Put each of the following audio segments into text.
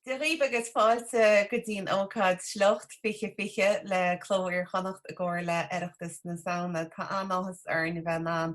Dia dhaoibh agus fáilte go dtí an ócáid Sliocht 2020 le Cló Iar-Chonnacht i gcomhar le Oireachtas na Samhna. Tá an-áthas orainn a bheith in ann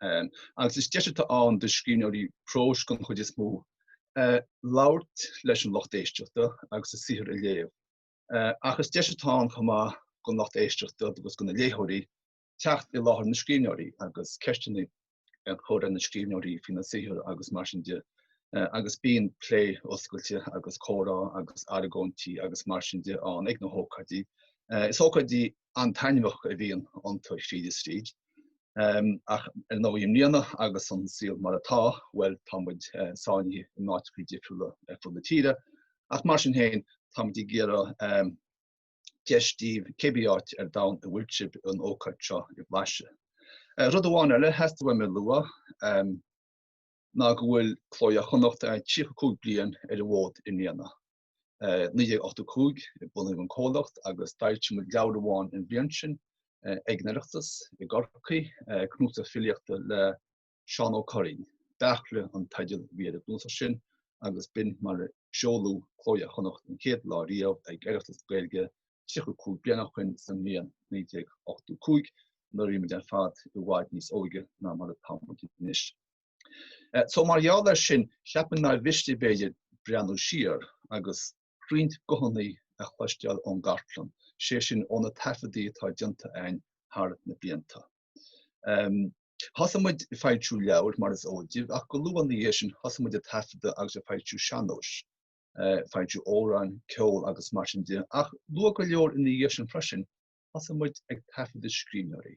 Um, agus is deis atá ann do scríbhneoirí próis gon chuid is mó uh, labhairt leis an lucht éisteachta agus a saothar a léamh. Uh, ach is deis atá ann chomh maith gon lucht éisteachta agus gona léitheoirí teacht i láthair na scríbhneoirí agus ceisteanna a chur ar na scríbhneoirí faoina saothar agus mar sin de. Uh, agus bíonn plé oscailte agus comhrá agus argóintí agus mar sin de ann ag na hócáidí. Uh, is ócáidí an-taitneamhach a bhíonn iontu tríd is tríd. Ach ar ndóigh i mbliana agus an saol mar atá, bhuel, tá muid sáinnithe in áiteachaí difriúla ar fud na tíre. Ach mar sin féin, tá muid ag iarraidh deis a thabhairt daoibh cébí áit ar domhan a bhfuil sibh an ócáid seo a bhlaiseadh. Rud amháin eile a theastaigh uaim a lua ná go bhfuil Cló Iar-Chonnacht 35 bliain ar an bhfód i mbliana. 1985 a bunaíodh an comhlacht agus d'fhoilsigh muid leabhar amháin an bhliain sin, Ag an Oireachtas i gCorcaigh, cnuasach filíochta le Seán Ó Curraoin. Beairtle an teideal a bhí ar an gcnuasach sin agus b'in mar a seoladh Cló Iar-Chonnacht an chéad lá riamh ag Oireachtas na Gaeilge 35 bliain ó shin sa mbliain 1985 nuair a bhí muid ar fad i bhfad níos óige ná mar atá muid anois. So mar gheall air sin, cheapfainn nár mhiste b'fhéidir breathnú siar agus roinnt guthanna a chloisteáil ón gcartlann, sé sin ó na taifeadaí atá déanta againn thar na blianta. Thosaigh muid ag foilsiú leabhair, mar is eol daoibh, ach go luath ina dhiaidh sin thosaigh muid ag taifeadadh agus ag foilsiú sean-nóis, foilsiú amhráin, ceol agus mar sin de, ach luath go leor ina dhiaidh sin freisin thosaigh muid ag taifeadadh scríbhneoirí.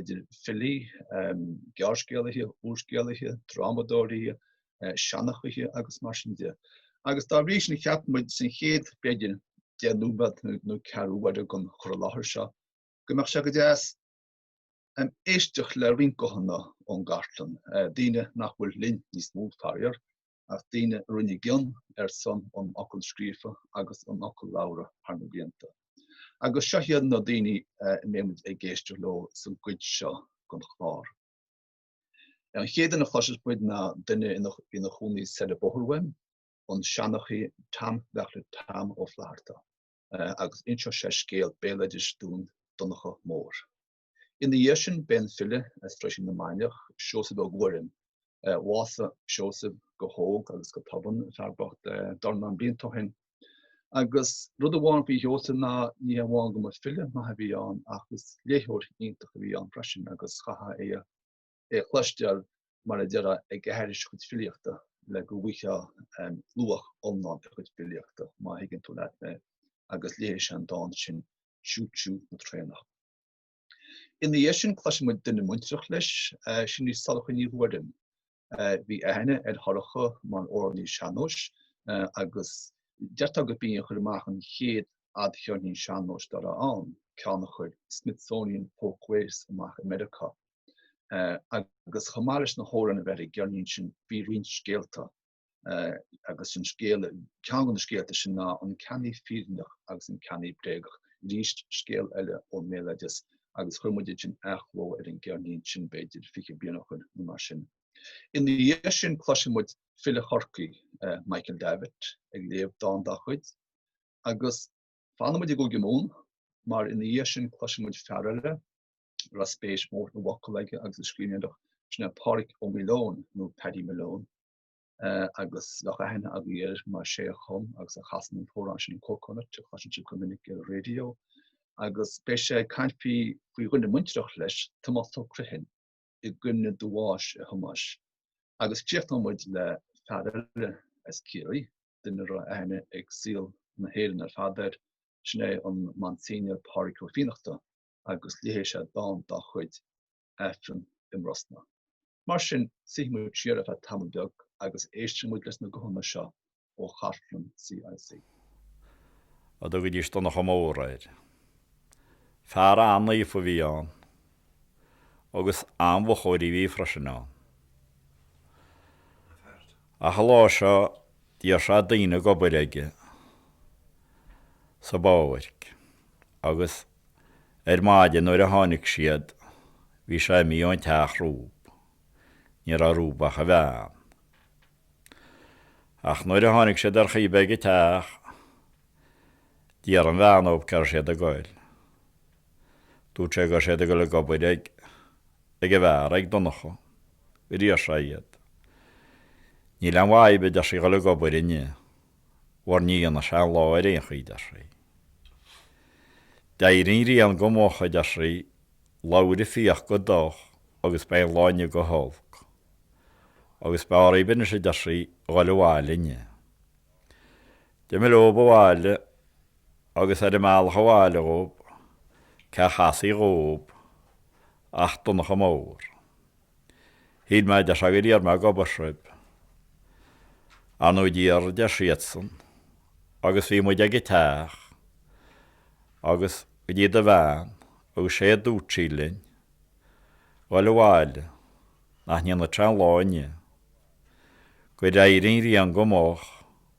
idir filí, gearrscéalaithe, úrscéalaithe, drámadóirí, seanchaithe agus mar sin de. Agus dá bhrí sin cheap muid san chéad, b'fhéidir, deich nóiméad nó ceathrú uaire den chur i láthair seo go mbeadh sé go deas éisteacht le roinnt guthanna ón gcartlann, daoine nach bhfuil linn níos mó, faraor. ach daoine a rinne a gcion ar son an fhocail scríofa agus an fhocail labhartha thar na blianta. Agus seo iad na daoine a mbeimid ag éisteacht leo sa gcuid seo den chlár. An chéad duine a chloiseas muid ná duine a bhí ina chónaí soir an bóthar uainn, an seanchaí Tom Bheairtle Tom Ó Flatharta, agus inseoidh sé scéal béaloidis dúinn Donnchadh Mór. Ina dhiaidh sin beidh an file as Roisín na Mainiach, Seosamh Ó Guairim, bhásaigh Seosamh go hóg agus go tobann, fear bocht dornán blianta ó shin. Agus rud amháin faoi Sheosamh ná ní hamháin go mba file maith a bhí ann ach is léitheoir iontach a bhí ann freisin agus chaithfeá é a chloisteáil mar a deirfeá ag aithris a chuid filíochta le go bhfuightheá luach iomlán a chuid filíochta má thuigeann tú leat mé agus léifidh sé an dán sin Tiú Tiú na Traenach. Ina dhiaidh sin cloiseann muid duine muintearach leis, sin í Sorcha Ní Ghuairim. Bhí aithne ar Shorcha mar amhránaí sean-nóis agus deirtear gurb í a chuir amach an chéad fhadcheirnín sean-nóis dá raibh ann, ceann a chuir Smithsonian Folkways amach i Meiriceá. Agus chomh maith leis na hamhráin a bheith ar an gceirnín sin bhí roinnt scéalta agus an scéal, ceann de na scéalta sin ná An Ceannaí Fírinneach agus an Ceannaí Bréagach, arís scéal eile ón mbéaloideas agus chuir muid ansin athchló ar an gceirnín sin b'fhéidir fiche bliain ó shoin nó mar sin. Ina dhiaidh sin cloisfidh muid file Chorcaí, Michael Davitt, ag léamh dán dá chuid agus Fanann muid i gCúige Mumhan mar ina dhiaidh sin cloiseann muid fear eile a raibh spéis mhór sa bhfocal aige agus sa scríbhneoireacht, sin é Pádraig Ó Maoileoin nó Paddy Malone agus bheadh aithne agaibh air mar sé a chum agus a chasann an t-amhrán sin Cóil Chonaill a chloiseann sibh go minic ar an raidió agus beidh sé ag caint faoi dhuine muintreach leis, Tomás Ó Criomthain i gcuimhne do bháis a Thomáis. Agus críochnóidh muid le fear eile as Ciarraí, duine a raibh aithne ag saol na hÉireann ar fad air, sin é an Monsignor Pádraig Ó Fiannachta agus léifidh sé dán dá chuid, 'Aifreann i mBrosna'. Mar sin, suífidh muid siar ar feadh tamaill beag agus éistfidh muid leis na guthanna seo ó chartlann CIC. a dtugaidís Donncha Mór air. Fear an-naofa a bhí ann agus an-mhochóirí a bhí freisin ann. Ach an lá seo d'iarr sé daoine ag obair aige sa bpáirc agus ar maidin nuair a tháinic siad bhí sé imithe ón teach rompu ní raibh rompu ach a bhean. Ach nuair a tháinic siad ar chaoi ar bith ag an teach d'iarr an bhean dhóib cé raibh siad ag goil. Dúirt sé go raibh siad ag goil ag obair ag. ag a fear, ag Donncha. Gur iarr sé iad. Níl aon mhaith dhaoibh, a deir sí, dhul ag obair inniu. Mar ní dhéanfaidh sé an lá ar aon chaoi, a deir sí. D'éirigh an ghrian go moch, a deir sí, labhair an fiach go doch agus beidh an lá inniu go holc. Agus b'fhearr dhaoibh anois, a deir sí, dhul abhaile inniu. D'imigh leob abhaile agus ar a mbealach abhaile dhóib cé a chasfaí dhóib ach Donncha Mór. Shíl mé a deir sé gur iarr mé ag obair sib. Ar ndú d'iarr a deir siadsan agus bhí muid ag an teach agus go dtí do bhean agus sé a dúirt sí linn dhoil abhaile nach ndéanfadh sé an lá inniu. Gur éirigh an ghrian go moch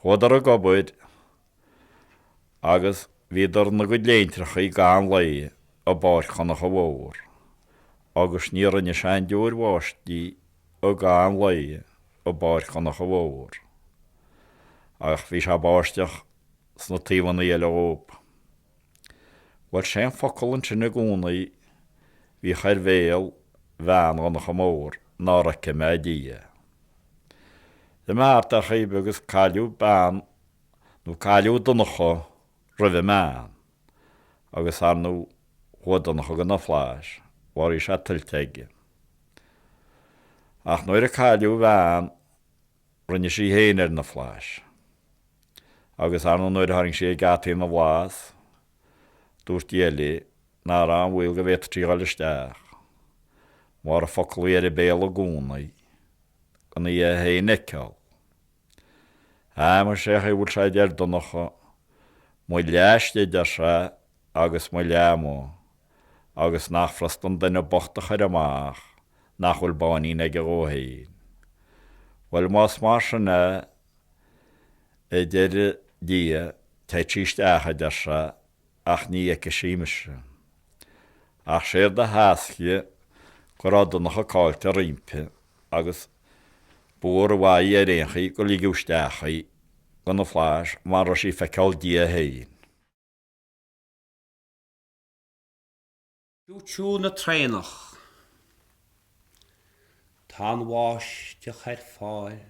Chuadar ag obair agus bhíodar ina gcuid léintreachaí i gcaitheamh an lae i bpáirc Dhonncha Mhóir agus ní rinne sé aon deoir bháistí i gcaitheamh an lae i bpáirc Dhonncha Mhóir ach bhí sé ag báisteach sna taobhanna eile dhóib. Bhuel, sé an focal ansin i gcónaí a bhíodh ar bhéal bhean Dhonncha Mhóir nár fheice mé Dia. D'imigh thart ar chaoi ar bith agus cailleadh bean nó cailleadh Donncha roimh an mbean agus ar ndú chuaigh Donncha go na Flaithis mar bhí sé tuillte aige. Ach nuair a cailleadh a bhean Rinne sí féin ar na Flaithis. Agus ar ndú nuair a tharraing sí ag geataí na bhFlaitheas, dúirt Dia léi nach raibh aon bhaol go bhféadfadh sí dhul isteach. Mar an focal a bhí ar a béal i gcónaí, gan í é féin a fheiceáil. Á muise, sé an chaoi a bhfuil sé, a deir Donncha, mo leath istigh, a deir sé, agus mo leath amuigh, agus nach furasta an duine bocht a chur amach nach bhfuil botháinín aige dhó fhéin. Bhuel, más mar sin é, a deir Dia, téadh sí isteach, a deir sé, ach ní fheicfidh sí mise. Ach séard a theascfaidh go raibh Donncha caillte roimpi, agus ba mhór an mhaith ar aon chaoi gur ligeadh isteach í, go na Flaithis, mara raibh sí ag feiceál Dia fhéin. tiú tiú na traenach. Tá an bháisteach ar fáil.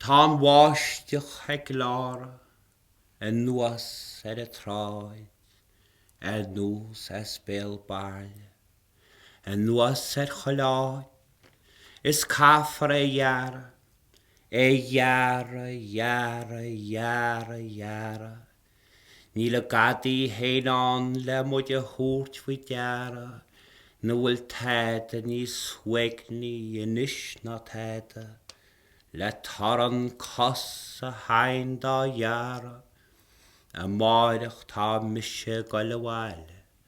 Tá an bháisteach ag gleáradh anuas ar an tsráid ar nós as béal bairille. Anuas ar chuile áit, is caithfear é ghearradh, é ghearradh, ghearradh, ghearradh, ghearradh. Níl an gadaí fhéin ann le muid a thabhairt faoi deara nach bhfuil tada níos uaigní anois ná tada, le torann cos a thine dá ghearradh. Amáireach tá mise ag goil abhaile.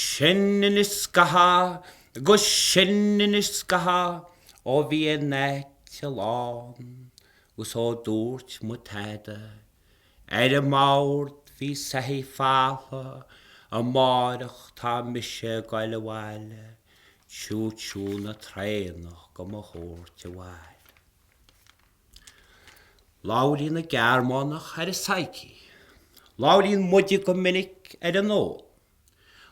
Sin anois scaitheamh agus sin anois scaitheamh ó bhí an áit lán agus ó dúirt mé tada, Ar an mbord bhí soithí falmha amáireach tá mise ag dul abhaile, tchú tchú na traenach go mo thabhairt abhaile. Labhraíonn na Gearmánacha ar an psyche. Labhraíonn muide go minic ar an ól.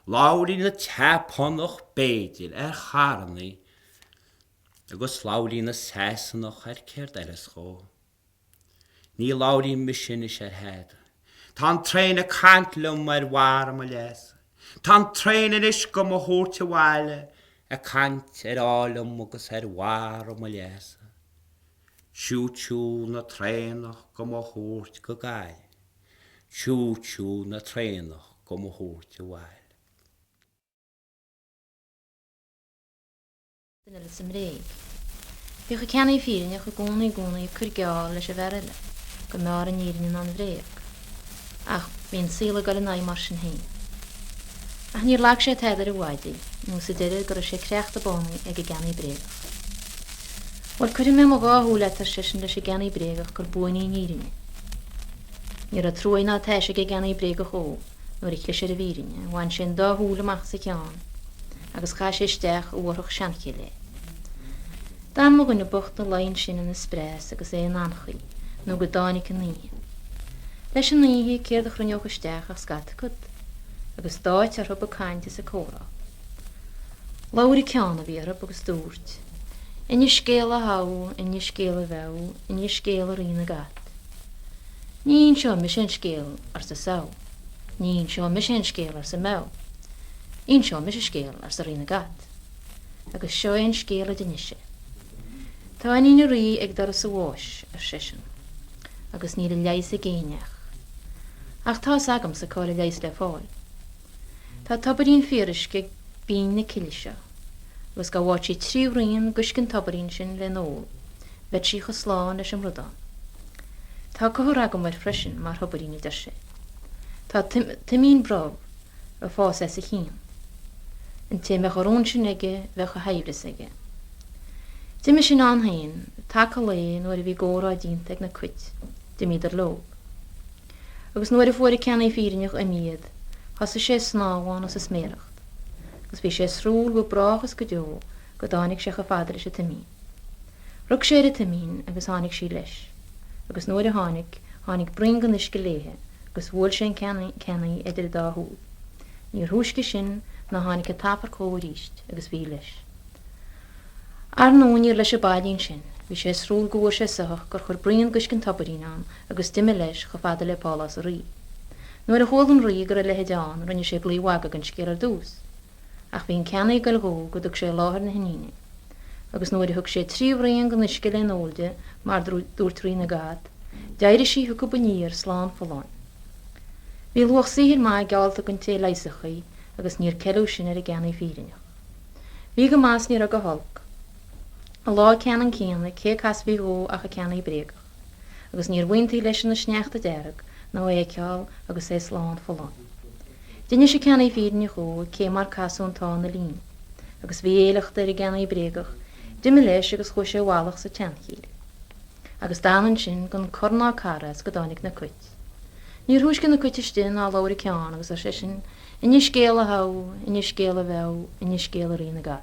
Labhraíonn na Seapánacha, b'fhéidir, ar charrannaí. Agus labhraíonn na Sasanacha ar céard eile is dóigh. Ní labhraím mise anois ar thada. Tá an traein ag caint liom ar bharr mo leasa. Tá an traein anois go mo thabhairt abhaile ag caint ar ádh liom agus ar bharr mo leasa. Siú siú na traenach go mo thabhairt go Gaillimh. Siú siú na traenach go mo thabhairt abhaile. Sin uilig sa mbréig. Bhíodh an ceannaí fírinneach i gcónaí i gcónaí ag cur geall leis an bhfear eile go mb'fheárr an fhírinne ná an bhréag. Ach bhí an saol ag dul ina aghaidh mar sin féin. Ach níor lag sé tada ar a mhaidí, nó sa deireadh go raibh sé creachta bánaithe ag an gceannaí bréagach. Bhuel, cuirfidh mé mo dhá shúil leat, ar seisean leis an gceannaí bréagach, gur buaine í an fhírinne. Ní raibh truaighe ná taise ag an gceannaí bréagach dó nuair a chlis ar an bhfírinne. Bhain sé an dá shúil amach as a cheann. agus chaith sé isteach i bhfothrach seanchille é. D'fhan mo dhuine bocht ina luí ansin ina spreas agus é in anchaoi nó go dtáinic an oíche. Leis an oíche céard a chruinneodh isteach ach scata cat, agus d'áitigh orthu ag caint is ag comhrá. Labhair an ceann a bhí orthu agus dúirt, Innis scéal a Shadhbh, innis scéal a Mheadhbh, innis scéal a Rí na gCat. Ní inseoidh mise an scéal, arsa Sadhbh. Ní inseoidh mise aon scéal, arsa Meadhbh. Inseoidh mise scéal, arsa Rí na gCat. Agus seo é an scéal a d'inis sé. Tá iníon a rí ag doras a bháis, ar seisean, agus níl a leigheas ag éinneach. Ach tá fhios agamsa cá'il a leigheas le fáil. Tá tobairín fíoruisce ag binn na cille seo, agus dhá bhfaigheadh sí trí bhraon d'uisce an tobairín sin le n-ól. Bheadh sí cho slán leis an mbradán. Tá comhartha agam air freisin mar thobairín, a deir sé. Tá toimín brobh a' fás as a chionn. An té a mbeadh a rún sin aige bheadh a shaibhreas aige. D'imigh sin ann fhéin, taca lae, nuair a bhí a gcomhrá déanta ag na cuit, d'imíodar leob. Agus nuair a fuair a' ceannaí fírinneach imithe iad, thosaigh sé a snámhán is a sméaracht, agus bhí sé ar siúl go brách is go deo go dtáinig sé cho fada leis a' toimín. Rug sé ar a toimín agus tháinig sí leis, agus nuair a tháinig, tháinig braon den uisce léithe agus bhuail sé an ceannaí idir a dá shúil. Níor thúisce sin ná tháinig an t-amharc dhó aríst agus bhí leis. Ar ndú níor leis ab fhaillí ansin. Bhí sé ar siúl go bhfuair sé soitheach gur chuir braon d'uisce an tobairín ann agus d'imigh leis chomh fada le pálás a' rí. Nuair a chuala an rí go raibh a leithide ann rinne sé glaodh mhagaidh den scéal ar dtús. Ach bhí an ceannaí ag goil dhó go dtug sé i láthair na hiníne. Agus nuair a thug sé trí bhraon den uisce le n-ól di, mar dúirt Rí na gCat, d'éirigh sí chucu aniar slán folláin. Bhí luach saothair maith geallta don té a leigheasfadh í agus níor ceileadh sin ar an gceannaí fírinneach. Bhí go maith is ní raibh go holc. An lá ceannann céanna, cé a casfaí dhó ach an ceannaí bréagach. agus níorbh iontaí leisean an sneachta dearg ná é a fheiceál agus é slán folláin. D'inis an ceannaí fírinneach dhó cé mar casadh an t-ádh ina líon, agus bhí a shliocht ar an gceannaí bréagach d'imi leis agus chuaigh sé i bhfalach sa tseanchill. Agus d'fhan ansin gan cor ná car as go dtáinig na cuit. Níor thúisce na cuit istigh ná labhair an ceann agus ar seisean, Inis scéal a Shadhbh, inis scéal a Mheadhbh, inis scéal a Rí na gCat.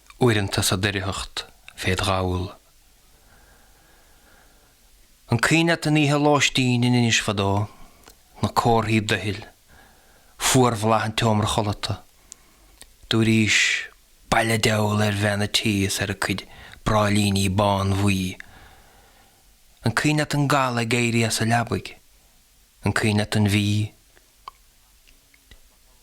uaireanta sa doircheacht féd ghabhal. An cuimhin leat an oíche lóistín in Inis fadó, na comharthaí doichill, fuarbholadh an tseomra chodlata. Dúraís, Bail an diabhail ar bhean a tí is ar a cuid bráillíní bánbhuí. An cuimhin leat an gal ag éirí as a leabaidh. An cuimhin leat an mhí.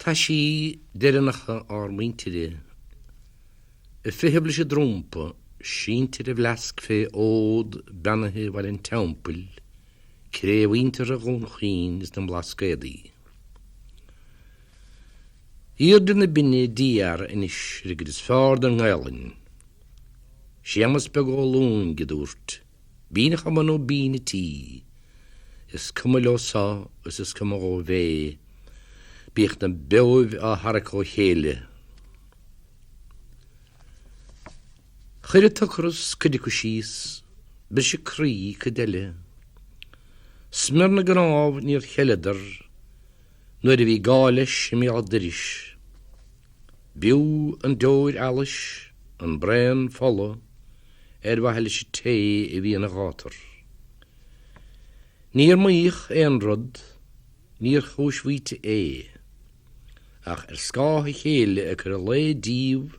Taisí deireanacha ár muintire, a fiche blise drúmpa, sínte ar a bhfleasc fé fhód beannaithe Bhaile an Teampaill, cré mhuinteartha Dhún Chaoin is na mBlascaodaí. Aoirde na Binne d'iarr Inis Riocaird is feárr don nGaelainn, Séamas Beag Ó Lúing, a dúirt, Bean a chumann ó bean an tí. Is cuma leo so is is cuma dhóibh é. Bíodh na beoibh á tharrac ó chéile. Chuir an t-ocras cuid acu síos, briseadh croí cuid eile. Smior na gcnámh níor cheileadar. Nuair a bhí gá leis i mbéal doiris. B'fhiú an deoir allais, an braon fola, ar mhaithe leis an té a bhí ina ghátar. Níor maíodh aon rud, níor chúis mhaíte é. Ach ar scáth a chéile ag cur an lae díobh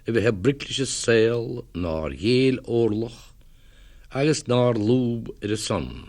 a bheith ag broic leis an saol nár ghéill orlach agus nár lúb ar a son.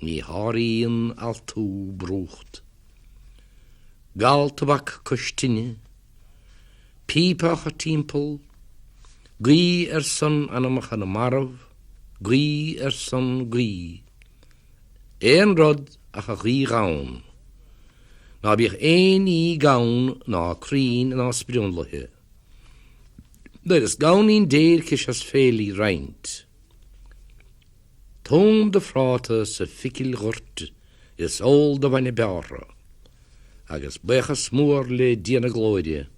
Ní sháraíonn altú brúcht. Gal tobac cois tine. Píopacha timpeall. Guí ar son anamacha na marbh. Guí ar son guí. Aon rud ach an ghuí ghann. Ná bíodh aon ní gann ná cruinn ná sprionlaithe. Nuair is gann í an déirc is ea is féile í a roinnt. Tom do phráta sa phicil ghoirt is ól do bhainne bearrtha. Agus baochas mór le Dia na Glóire,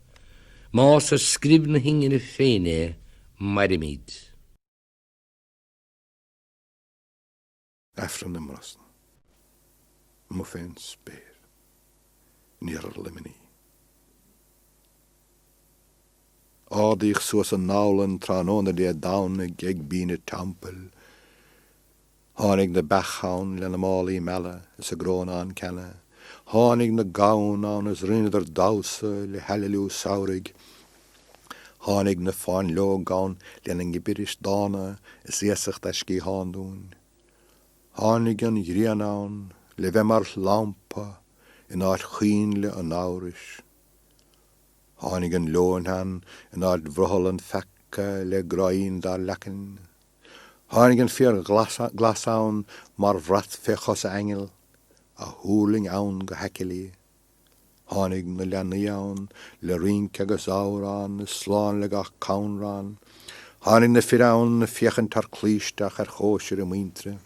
más ar scríob na hingine féin é, mairimid. Aifreann i mBrosna. Amuigh fén spéir. In iarthar Luimnigh. Ardaíodh suas an Abhlann tráthnóna Dé Domhnaigh ag binn an teampaill. Tháinig na beacha ann lena málaí meala is a gcrónán ceana. Tháinig na gamhain ann is rinneadar damhsa le haililiú samhraidh. Tháinig na fáinleoga ann lena ngibiris dána is iasacht a sciathán dúinn. Tháinig an ghrian ann le bheith mar lampa in áit choinnle an amhrais. Tháinig an leoithne ann in áit bhrothall an pheaca le gráín dár leacain. Tháinig an féar glas ann mar bhrat fé chosa aingil, a thuirling ann go haicillí. Tháinig na leanaí ann le rince agus amhrán is slán le gach canrán. Tháinig na fir ann ag féachaint thar claí isteach ar chóisir a muintire.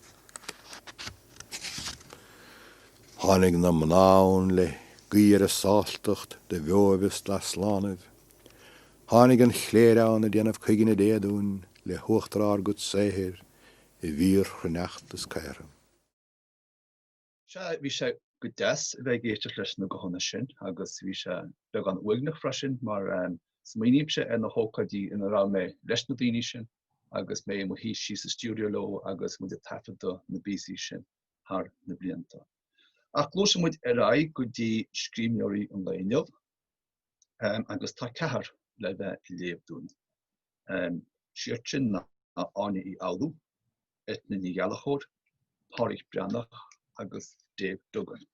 Tháinig na mná ann le guí ar a sástacht do bheoibh is d'easlánaibh. Tháinig an chléir ann ag déanamh cuiginne Dé dúinn le huachtar ár gcuid saothair i bhfíor-chruithneacht is caora. Sea, bhí sé go deas a bheith ag éisteacht leis na guthanna sin agus bhí sé beagán uaigneach freisin mar smaoinímse ar na hócáidí ina raibh mé leis na daoine sin agus mé i mo shuí síos sa stiúideo leo agus muid ag taifeadadh na bpíosaí sin. thar na blianta. Ach gluaiseann muid ar aghaidh go dtí scríbhneoirí an lae inniu agus tá ceathrar le bheith ag léamh dúinn. Siad sin ná Áine Uí Fhoghlú, Eithne Ní Ghallchobhair, Pádraic Breathnach agus Dave Duggan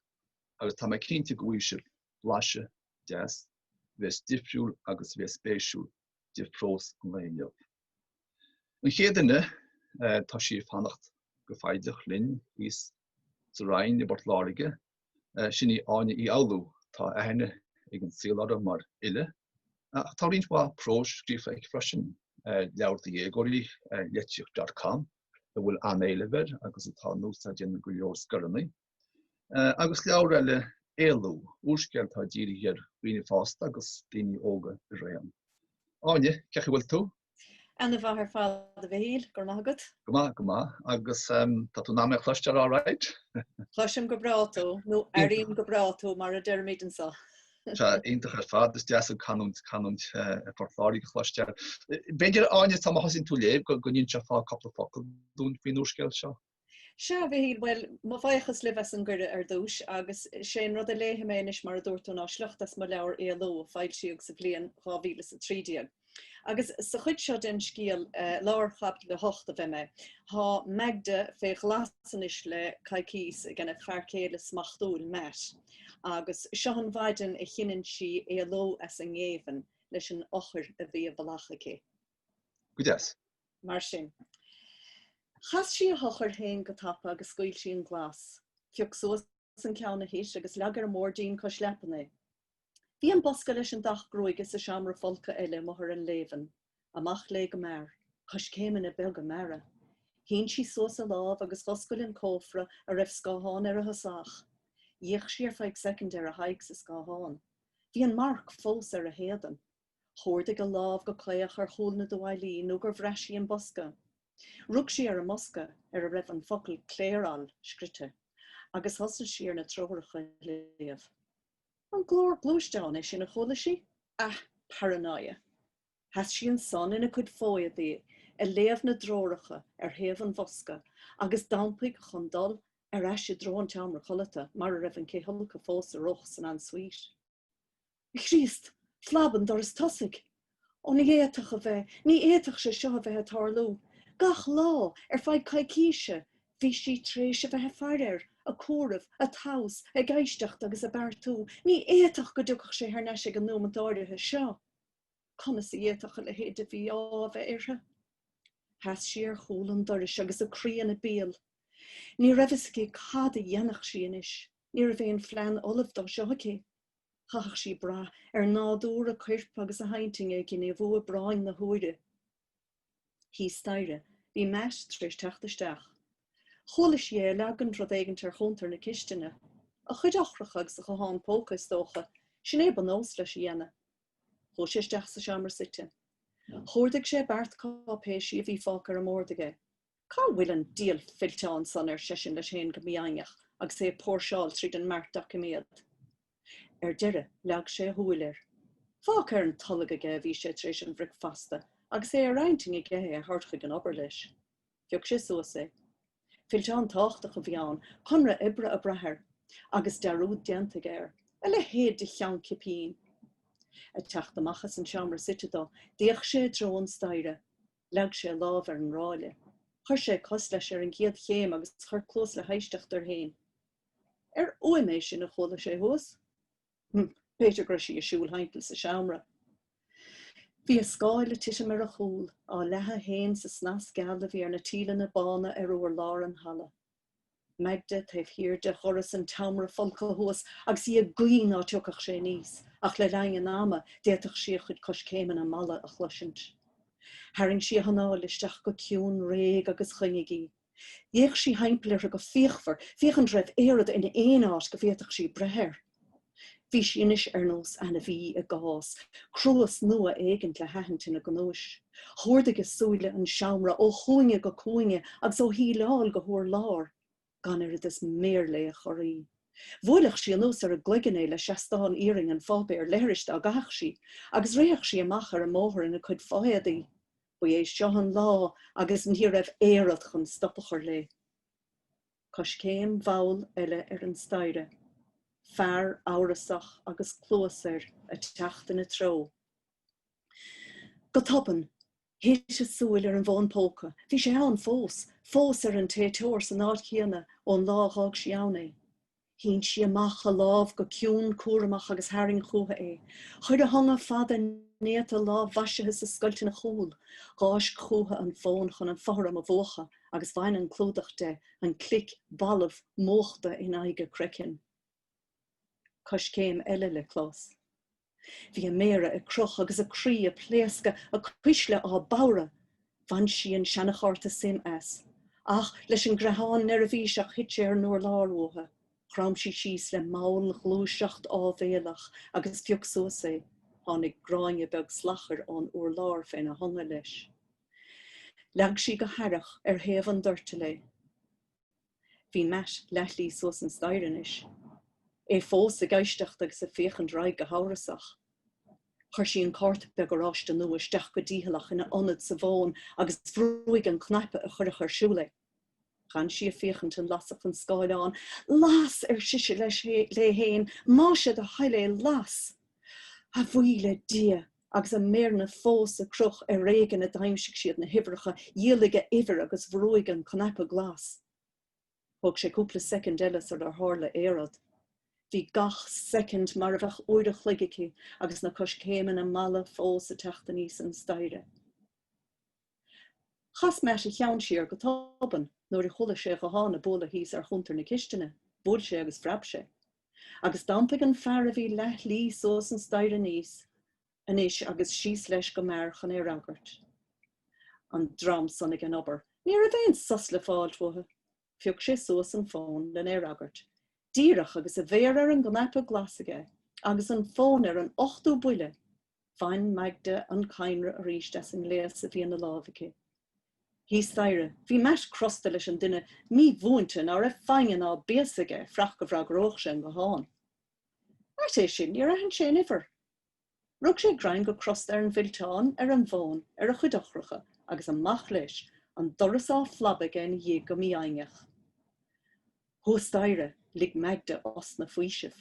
agus tá mé cinnte go bhfaighidh sibh blaiseadh deas a bheas difriúil agus a bheas spéisiúil de phrós an lae inniu. An chéad duine tá sí ag fanacht go foighdeach linn thíos sa Rinn i bPort Láirge, sin í Áine Uí Fhoghlú. Tá aithne ag an saol uirthi mar fhile ach tá roinnt mhaith próis scríofa aici freisin, leabhar do dhéagóirí, Litríocht dot com, a bhfuil an-éileamh air agus atá in úsáid ag go leor scoileanna. agus leabhar eile, Éalú, úrscéal atá dírithe ar dhaoine fásta agus daoine óga araon. Áine, cén chaoi a bhfuil tú? Ana mhaith ar fad a Mhichíl, go raibh maith agat. Go maith, go maith, agus tá tú in ann mé a chloisteáil alright? Cloisim go breá tú, nó airím go breá tú mar a deirimid anseo. Tá, iontach ar fad, is deas an chanúint, canúint Phort Láirge a chloisteáil. B'fhéidir Áine, sul má thosaíonn tú ag léamh, go n-inseofá cupla focal dúinn faoin úrscéal seo. Sea, a Mhichíl, bhuel, mo bhuíochas libh as an gcuireadh ar dtúis, agus sé an rud a léifidh mé anois mar a dúirt tú ná sliocht as mo leabhar Éalú a foilsíodh sa bhliain dhá mhíle is a trí déag. Agus sa chuid seo den scéal, lár chaibidil a hocht, a bheidh mé. Tá Magda fé ghlas anois le coicíos aigena fear céile smachtúil, Matt, agus seo an mhaidean a chinneann sí éalú as an ngéibheann leis an eochair a bhí i bhfolach aici. Go deas. Mar sin. Chas sí a heochair féin go tapa agus scaoil sí an glas. Phioc suas an ceann a thit agus leag ar an mboirdín cois leapan é. Bhí an bosca leis an dath gruaige sa seomra folctha eile i mbarr an léibhinn. Amach léi go mear. Coiscéimeanna beaga meara. Shín sí suas a lámh agus dh'oscail an cófra a raibh scáthán ar a thosach. D'fhéach sí ar feadh soicind ar a haghaidh sa scáthán. Bhí an marc fós ar a héadan. Chuardaigh a lámh go caoch ar chúl na dtuáillí nó gur bhraith sí an bosca. Rug sí ar an mbosca ar a raibh an focal Clairol scrite agus thosaigh sí ar na treoracha a léamh. An glór gluaisteáin é sin a chuala sí? Ah, paranoia! Sheas sí ansan ina cuid fo-éadaí ag léamh na dtreoracha ar thaobh an bhosca agus d'iompaigh chun dul ar ais i dtreo an tseomra codlata mar a raibh an cithfholcadh fós ar oth san en suite. A Chríost, phlab an doras tosaigh! Ó ní fhéadfadh a bheith, ní fhéadfadh sé seo a bheith ag tarlú! Gach lá, ar feadh coicíse, bhí sí tar éis a bheith ag faire air, ag comhaireamh, ag tomhas, ag éisteacht agus ag beartú. Ní fhéadfadh go dtiocfadh sé thar n-ais ag an nóimeant áirithe seo! Conas a d'fhéadfadh a leithéid de mhí-ádh a bheith uirthi? Sheas sí ar chúl an dorais agus a croí ina béal. Ní raibh fhios aici cad a dhéanfadh sí anois. Ní raibh aon phlean ullamh dó seo aici. Chaithfeadh sí brath ar nádúr a cuirp agus a hintinn ag gníomhú i bpráinn na huaire. Thíos staighre bhí Matt tar éis teacht isteach. Chuala sí é ag leagaint rud éigint ar chuntar na cistine. A chuid eochracha agus a ghuthán póca is dócha, sin é ba nós leis a dhéanamh. Chuaigh sé isteach sa seomra suite. Chuardaigh sé beart cáipéisí a bhí fágtha ar an mbord aige. Cá bhfuil an dial fillteán san, ar seisean leis féin go mífhoighneach agus é ag póirseáil tríd an mbeart doiciméad. Ar deireadh leag sé a shúil air. Fágtha ar an tolg aige a bhí sé tar éis an bhricfeasta agus é ar intinn aige é a thabhairt chuig an obair leis. Phioc sé suas é. Fillteán táchtach a bhí ann, conradh oibre ag brath air, agus dearúd déanta aige air. A leithéid de cheann cipín! Ag teacht amach as an seomra suite dó, d'fhéach sé i dtreo an staighre. Leag sé a lámh ar an ráille. Chuir sé cos leis ar an gcéad chéim agus chuir cluas le héisteacht air féin. Arbh fhuaim é sin a chuala sé thuas? Hm, b'fhéidir go raibh sí ag siúl thimpeall sa seomra. Bhí a scáil ag titim ar a chúl, á leathadh féin sa snas geal a bhí ar na tíleanna bána ar urlár an halla. Magda taobh thiar de dhoras an tseomra folctha thuas agus í ag guí ná tiocfadh sé aníos, ach le linn an ama d'fhéadfadh sí a chuid coiscéimeanna malla a chloisint. Tharraing sí a hanáil isteach go ciúin réidh agus choinnigh í. D'fhéach sí thimpeall uirthi go fíochmhar, féachaint an raibh aon rud in aon áit go bhféadfadh sí breith air. Bhí sí anois ar nós ainmhí i gcás, cruas nua éigint le haithint ina gnúis. Chuardaigh a súile an seomra ó chúinne go cúinne agus ó shíleáil go hurlár. Gan oiread is méar léi a chorraí. Bhuailfeadh sí anuas ar a gcloigeann é le seastán iarainn an pháipéir leithris dá gcaithfeadh sí, agus rithfeadh sí amach ar an mbóthar ina cuid fo-éadaí. Ba é seo an lá agus ní raibh aon rud chun stop a chur léi. Coiscéim mhall eile ar an staighre. Fear amhrasach agus cluas air a' teacht ina treo. Go tobann, thit a súil ar an bhfón póca. Bhí sé ann fós. Fós ar an téiteoir san áit chéanna ón lá a dh'fhág sí ann é. Shín sí amach a lámh go ciúin cúramach agus tharraing chúithe é. Chuir a hionga fada néata lámh-mhaisithe sa scoilt ina chúl. Dh'fháisc chúithe an fón chun an fothram a mhúchadh agus bhain an clúdach de, an clic balbh múchta in aghaidh a croicinn. Coiscéim eile le clos. Bhí a méara ag crith agus a croí ag pléascadh, a cuisle á bodhradh. Bhain sí an seanachárta SIM as. Ach leis an gcreathán neirbhíseach thit sé ar an urlár uaithi. Chrom sí síos le mallghluaiseacht áibhéalach agus phioc suas é. Tháinig gráinne beag slachair ón urlár féna hionga leis. Leag sí go haireach ar thaobh an doirtil é. Bhí Matt leathshlí suas an staighre anois. É fós ag éisteacht agus ag féachaint ar aghaidh go hamhrasach. Chuir sí an cárta beag oráiste nua isteach go dícheallach ina ionad sa bhfón agus bhrúigh an cnaipe a chuirfeadh ar siúl é. Dh'fhan sí ag féachaint an lasfadh an scáileán. 'Las! ar sise leis léi fhéin, 'más é do thoil é, las! A bhuí le Dia! agus a méireanna fós ag crith ar éigin a d'aimsigh siad na huimhreacha, dhiailigh a uimhir agus bhrúigh an cnaipe glas. Thóg sé cúpla soicind eile sarar tharla aon rud. Bhí gach soicind mar a bheadh uair a chloig aici agus na coiscéimeanna malla fós ag teacht aníos an staighre. Chas Matt a cheann siar go tobann nuair a chuala sé guthán ag bualadh thíos ar chuntar na cistine. Bhuail sé agus phreab sé. Agus d'iompaigh an fear a bhí leath-shlí suas an staighre aníos anois agus síos leis go mear chun é a fhreagairt. An dream san ag an obair! Ní raibh aon sos le fáilt uathu. Phioc sé suas an fón len é a fhreagairt. Díreach agus a mhéar ar an gcnaipe glas aige agus an fón ar an ochtú buille, bhain Magda an cadhnra arís as an ngléas a bhí ina láimh aici. Thíos staighre, bhí Matt crosta leis an duine mímhúinte ná raibh foighne ná béasa aige fuireach go bhfreagródh sé an guthán. Ait é sin, níor aithin sé an uimhir. Rug sé greim go crosta ar an bhfillteán ar an bhfón ar a chuid eochracha agus amach leis, an doras á phlabadh aige ina dhiaidh go mífhoighneach. Thuas staighre, lig Magda osna faoisimh.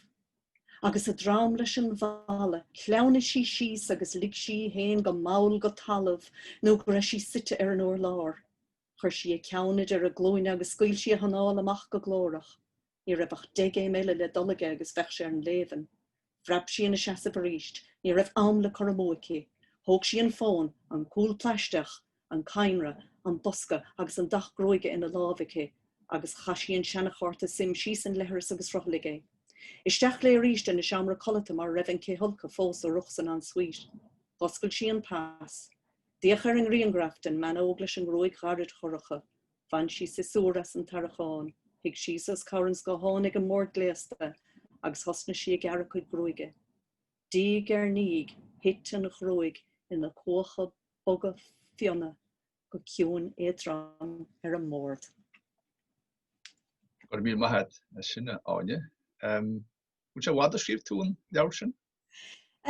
Agus a droim leis an bhfalla, shleamhnaigh sí síos agus lig sí í féin go mall go talamh nó go raibh sí suite ar an urlár. Chuir sí a ceann idir a glúine agus scaoil sí a hanáil amach go glórach. Ní raibh ach deich gcéim eile le dul aige agus bheadh sé ar an léibheann. Phreab sí ina seasamh arís. Ní raibh am le cur amú aici. Thóg sí an fón, an cúl plaisteach, an cadhnra, an bosca agus an dath gruaige ina lámh aici, agus chaith sí an seana-chárta sim síos an leithreas agus shruthlaigh é. Isteach léi arís ina seomra codlata mar a raibh an cithfholcadh fós ar rith san en-suite. Dh'oscail sí an pas. D'fhéach ar an ngrianghraf den mbean óg leis an ngruaig ghairid dhorcha. Bhain sí siosúr as an tarrachán, shuigh síos os comhair an scátháin ag an mbord gléasta agus thosnaigh sí ag gearradh a cuid gruaige. Diaidh ar ndiaidh, thit an ghruaig ina cuacha boga fionna go ciúin éadrom ar an mbord. Go raibh míle maith agat as sin, a Áine. An bhfuil sé i bhfad ó scríobh tú an leabhar sin?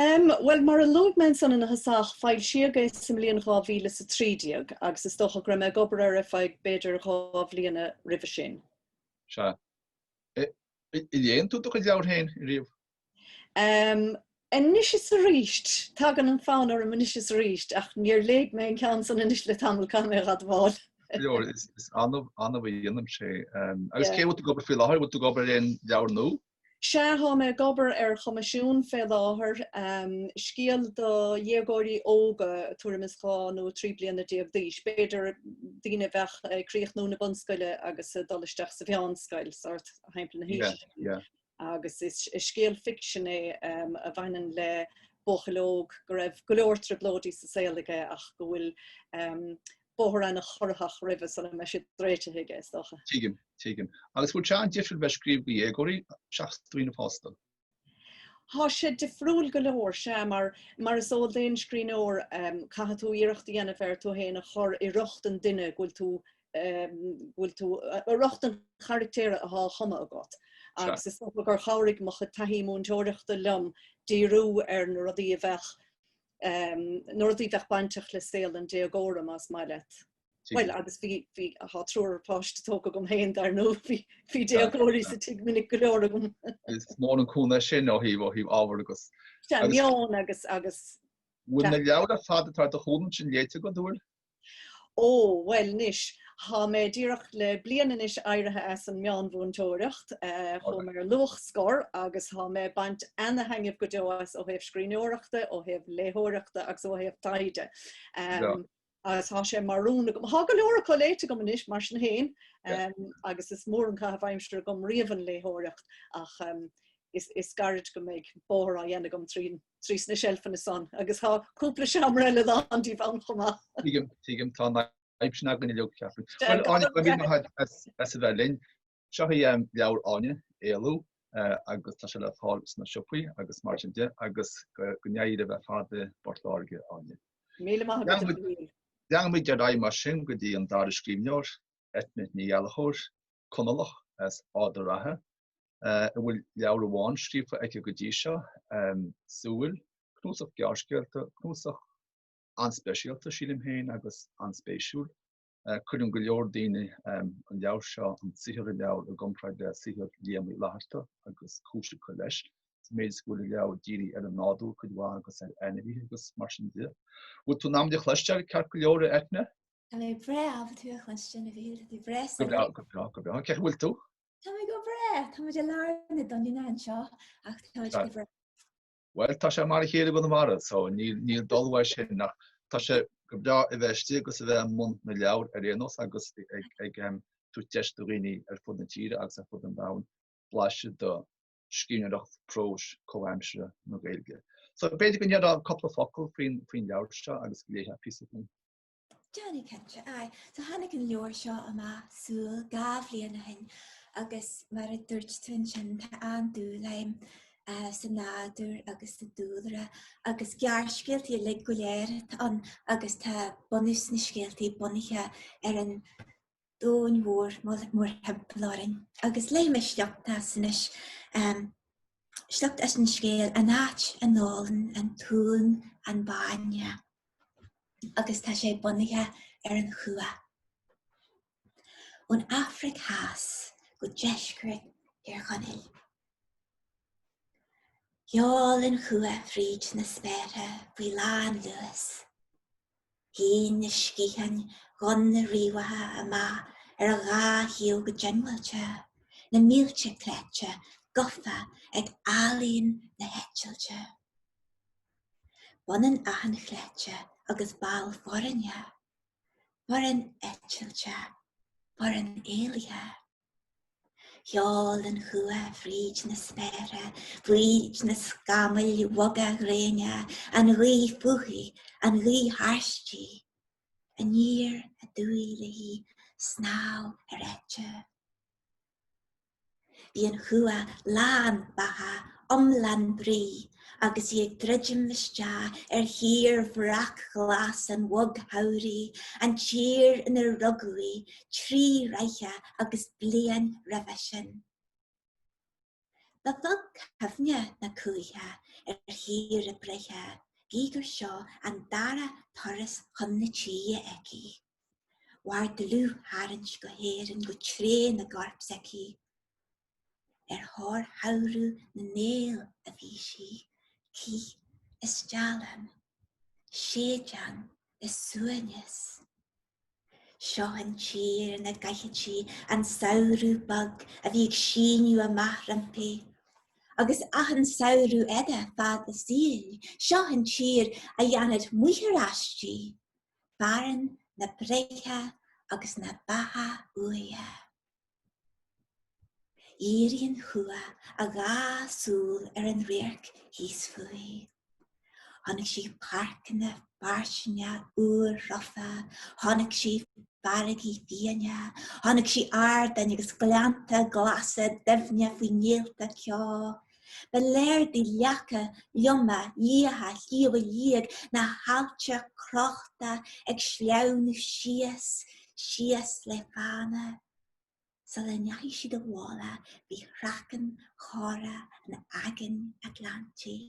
Em, bhuel, mar a luaigh mé ansan ina thosach, foilsíodh é sa mbliain 2013 agus is dócha go raibh mé ag obair air ar feadh b'fhéidir dhá bhliana roimhe sin. Sea. An léann tú do chuid leabhar féin riamh? Em, anois is arís. Tagann an fonn orm anois is arís, ach níor léigh mé an ceann san anois le tamall, caithfidh mé a admháil. Is annamh, annamh a dhéanaim sé. Em, agus céard a bhfuil tú ag obair air faoi láthair? Bhfuil tú ag obair ar aon leabhar nua? Sea, thá mé ag obair ar choimisiún fé láthair, scéal do dhéagóirí óga tuairim is dhá nó trí bliana déag d'aois, b'fhéidir, daoine a bheadh ag críochnú na bunscoile agus ag dul isteach sa mheánscoil, sórt thimpeall na haoise sin. Agus is scéal ficsin é a bhaineann le buachaill óg go raibh go leor trioblóidí sa saol aige ach go bhfuil bóthar ana-chorraitheach roimhe sula mbeidh siad réitithe aige, is dócha. Tuigim, tuigim. Agus bhfuil sé an-difriúil bheith scríobh do dhéagóirí, seachas daoine fásta? Tá sé difriúil go leor, sea, mar, mar is eol d'aon scríbhneoir, caithfidh tú iarracht a dhéanamh ar tú fhéin a chur i riocht an duine go bhfuil tú, go bhfuil tú, i riocht an charachtair athá a chumadh agat. Agus is dócha gur chabhraigh mo chuid taithí múinteoireachta liom díriú ar na rudaí a bheadh Na rudaí a bheadh bainteach le saol an déagóra más maith leat. Bhuel agus bhí bhí thá triúr páiste tógtha agam féin dar ndóigh bhí bhí déagóirí sa tigh minic go leor agam. Is mór an cúnamh sin ó thaobh ó thaobh ábhar agus meon agus agus. Bhfuil na leabhair ar fad atá ar do chúl ansin léite agat go fóill? Ó, bhuel anois, tá mé díreach le bliain anois éirithe as an meánmhúinteoireacht, chuaigh mé ar luathscor agus tá mé ag baint ana-thaitneamh go deo as ó thaobh scríbhneoireachta, ó thaobh léitheoireachta agus ó thaobh taighde. Agus tá sé mar rún agam, tá go leor acu léite agam anois mar sin féin agus is mór an caitheamh aimsire agam riamh an léitheoireacht ach is gairid go mbeidh bóthar déanta agam trín trí sna seilfeanna san agus tá cúpla seomra eile lán díobh ann chomh maith. Tuigim, tuigim, tá an fhadhb sin againn inniu, ceapaim. Bhuel, Áine, go míle maith as a bheith linn. Seo í leabhar Áine, Éalú, agus tá sé le fáil sna siopaí agus mar sin de, agus go n-éirí libh ar fad i bPort Láirge, Áine. Míle maith agat, a Mhichíl. Leanfaimid ar aghaidh mar sin go dtí an dara scríbhneoir, Eithne Ní Ghallchobhair. Conallach as Ard an Rátha a bhfuil leabhar amháin scríofa aici go dtí seo, Súil, cnuasach gearrscéalta, cnuasach an-speisialta sílim féin agus an-spéisiúil. Cuireann go leor daoine an leabhar seo, an saothar i leabhar i gcomparáid le saothar Liam Uí Fhlaithearta agus cúis acu leis, sa méid is go bhfuil an leabhar dírithe ar an nádúr cuid mhaith agus ar ainmhithe agus mar sin de. Bhfuil tú in ann muid a chloisteáil, ceart go leor a Eithne? Tá mé breá ábalta thú a chluinstean a Mhichíl, go breá. Go breá, go breá, go breá. Cén chaoi a bhfuil tú? Tá mé go breá. Tá mé i lár na doininne anseo ach tá mé go breá. Bhuel tá sé mar a chéile i gConamara so níl níl dul uaidh sin ach tá sé go breá a bheith istigh agus a bheith i mbun na leabhar ar aon nós agus ag ag um, tabhairt deis do dhaoine ar fud na tíre agus ar fud an domhain blaiseadh de scríbhneoireacht próis comhaimseartha na Gaeilge. So b'fhéidir go ndéarfá cúpla focal faoin faoin leabhar seo agus go léifeá píosa dúinn Déanfaidh cinnte, aye. So tháinig an leabhar seo amach, Súil, dhá bhliain ó shin agus mar a dúirt tú ansin tá an-dúil agam eh, sa nádúr agus sa dúlra agus gearrscéaltaí uilig go léir atá ann agus tá bunús na scéaltaí bunaithe ar an domhan mhór mórthimpeall orainn agus léifidh mé sliocht as anois, sliocht as an scéal An Áit a nÓlann an tUan an Bainne agus tá sé bunaithe ar an chuach. Ón Afraic Theas go deisceart Thír Chonaill. Ghearr an chuach fríd na spéartha faoi lán luas. Shín na sciatháin dhonna riabhacha amach ar a dhá thaobh go diongbháilte, na mílte cleite gafa ag ealaín na heitilte. B'ionann achan chleite agus ball foirne, foireann eitilte, foireann éalaithe. Sheol an chuach fríd na spéire, fríd na scamaill bhoga ghréine, an ghaoth fúithi, an ghaoth thairsti, aniar aduaidh léi snámh ar eite. Bhí an chuach lán beatha, iomlán brí, agus í ag druidim isteach ar thír bhreac-ghlas an bhogshamhraidh, an tír inar rugadh í trí ráithe agus bliain roimhe sin. Ba bheag cuimhne na cuaiche ar thír a breithe, gí gur seo an dara turas chun na tíre aici. Mhair dlúth-tharraingt go hÉirinn go tréan i gcorp s'aici. ar thóir shamhradh na néal a bhí sí, cith is steallann, séideán is suaimhneas. Seo an tír ina gcaithfeadh sí an samhradh bog a bhí ag síneadh amach roimpi, agus achan samhradh eile fad a saoil, seo an tír a dhéanfadh máthair aisti, fearann na breithe agus na beatha úire. Dhírigh an chuach a dhá súil ar an radharc thíos fúithi. Chonaic sí páirceanna fairsinge úrthreafa, chonaic sí farraigí fiaine, chonaic sí ardáin agus gleannta glasa doimhne faoi néalta ceo, Ba léir di leaca loma liatha Shliabh Liag na haillte crochta ag sleamhnú síos, síos le fána. Sula ndeachaigh siad i bhfolach faoi chraiceann chorrach an Aigéin Atlantaigh.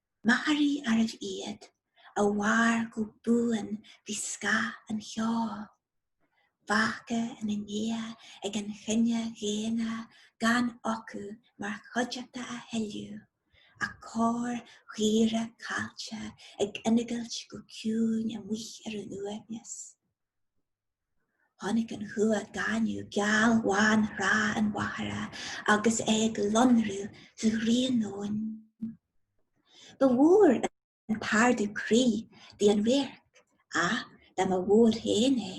Machairí arbh iad a mhair go buan faoi scáth an cheo. Fágtha ina ndiaidh ag an chine dhaonna gan acu mar chuideachta a thuilleadh ach corrchaora caillte ag ingilt go ciúin amuigh ar an uaigneas. Chonaic an chuach gaineamh gealbhán Thrá an Mhachaire agus é ag lonrú sa ghrian nóin. Ba mhór an t-ardú croí di an radharc ach dá mba mhór féin é,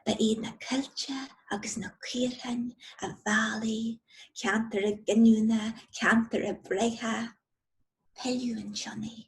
ba iad na coillte agus na caorthainn a mheall í ceantar a giniúna, ceantar a breithe. Pilleadh an tsionnaigh.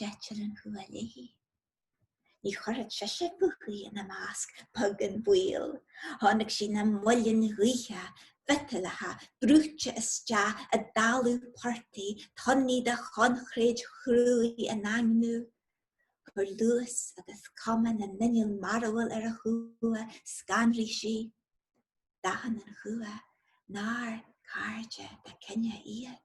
D'eitil an chuach léi. Ní chuirfeadh sise fúithi ina measc beag an baol, chonaic sí na muilinn ghaoithe, mhiotalacha, brúite isteach i dtalamh portaigh, tonnaí de choincréid chruaidh á ndaingniú. Chuir luas agus cuma na n-inneall mearbhall ar an chuach, scanraigh sí. D'aithin an chuach nár cairde dá cine iad.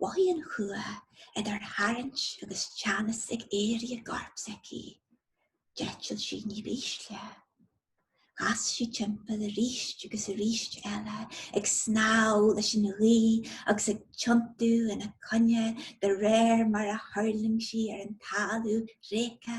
Mhothaigh an chuach idir tharraingt agus teannas ag éirí i gcorp s'aici. D'eitil sí ní b'ísle. Chas sí timpeall arís agus arís eile ag snámh leis an ghaoth agus ag tiontú ina coinne de réir mar a thuirling sí ar an talamh thréigthe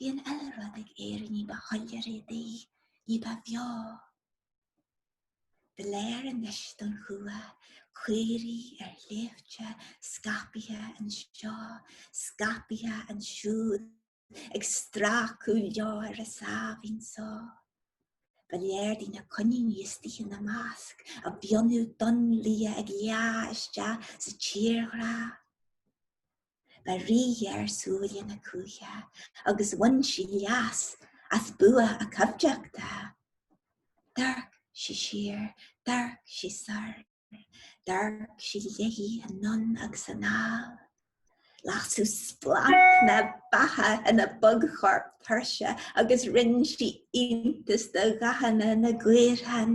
Bhí an uile rud ag éirí ní ba shoiléire di, ní ba bheo. Ba léir anois don chuach caoirigh ar shléibhte scaipthe anseo, scaipthe ansiúd ag stracadh leo ar a sáimhín só. Ba léir di na coiníní istigh ina measc, a bhfionnadh donn liath ag leá isteach sa tírdhreach. Ba ríghéar súile na cuaiche agus bhain sí leas as bua a coimhdeachta. D'amharc sí siar, d'amharc sí soir, d'amharc sí léithi anonn agus anall. Lasadh splanc na beatha ina bogchorp tuirseach agus rinn sí iontas de dhathanna na gcaorthann.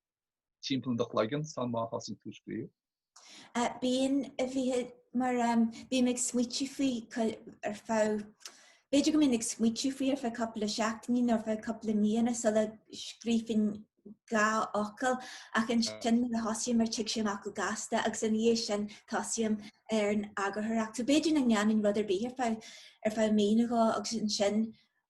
Timpeall i do chloigeann sul má thosaíonn tú ag scríobh? Bíonn a bhíthe mar bím ag smaoitiú faoi ar feadh, b'fhéidir go mbím ag smaoitiú faoi ar feadh cúpla seachtaine nó ar feadh cúpla míonna sula scríobhfainn dhá fhocal ach ansin nuair a thosaím air tig sé amach go gasta agus ina dhiaidh sin tosaím ar an eagarthóireacht. So b'fhéidir nach ndéanaim rud ar bith ar feadh mí nó dhó agus ansin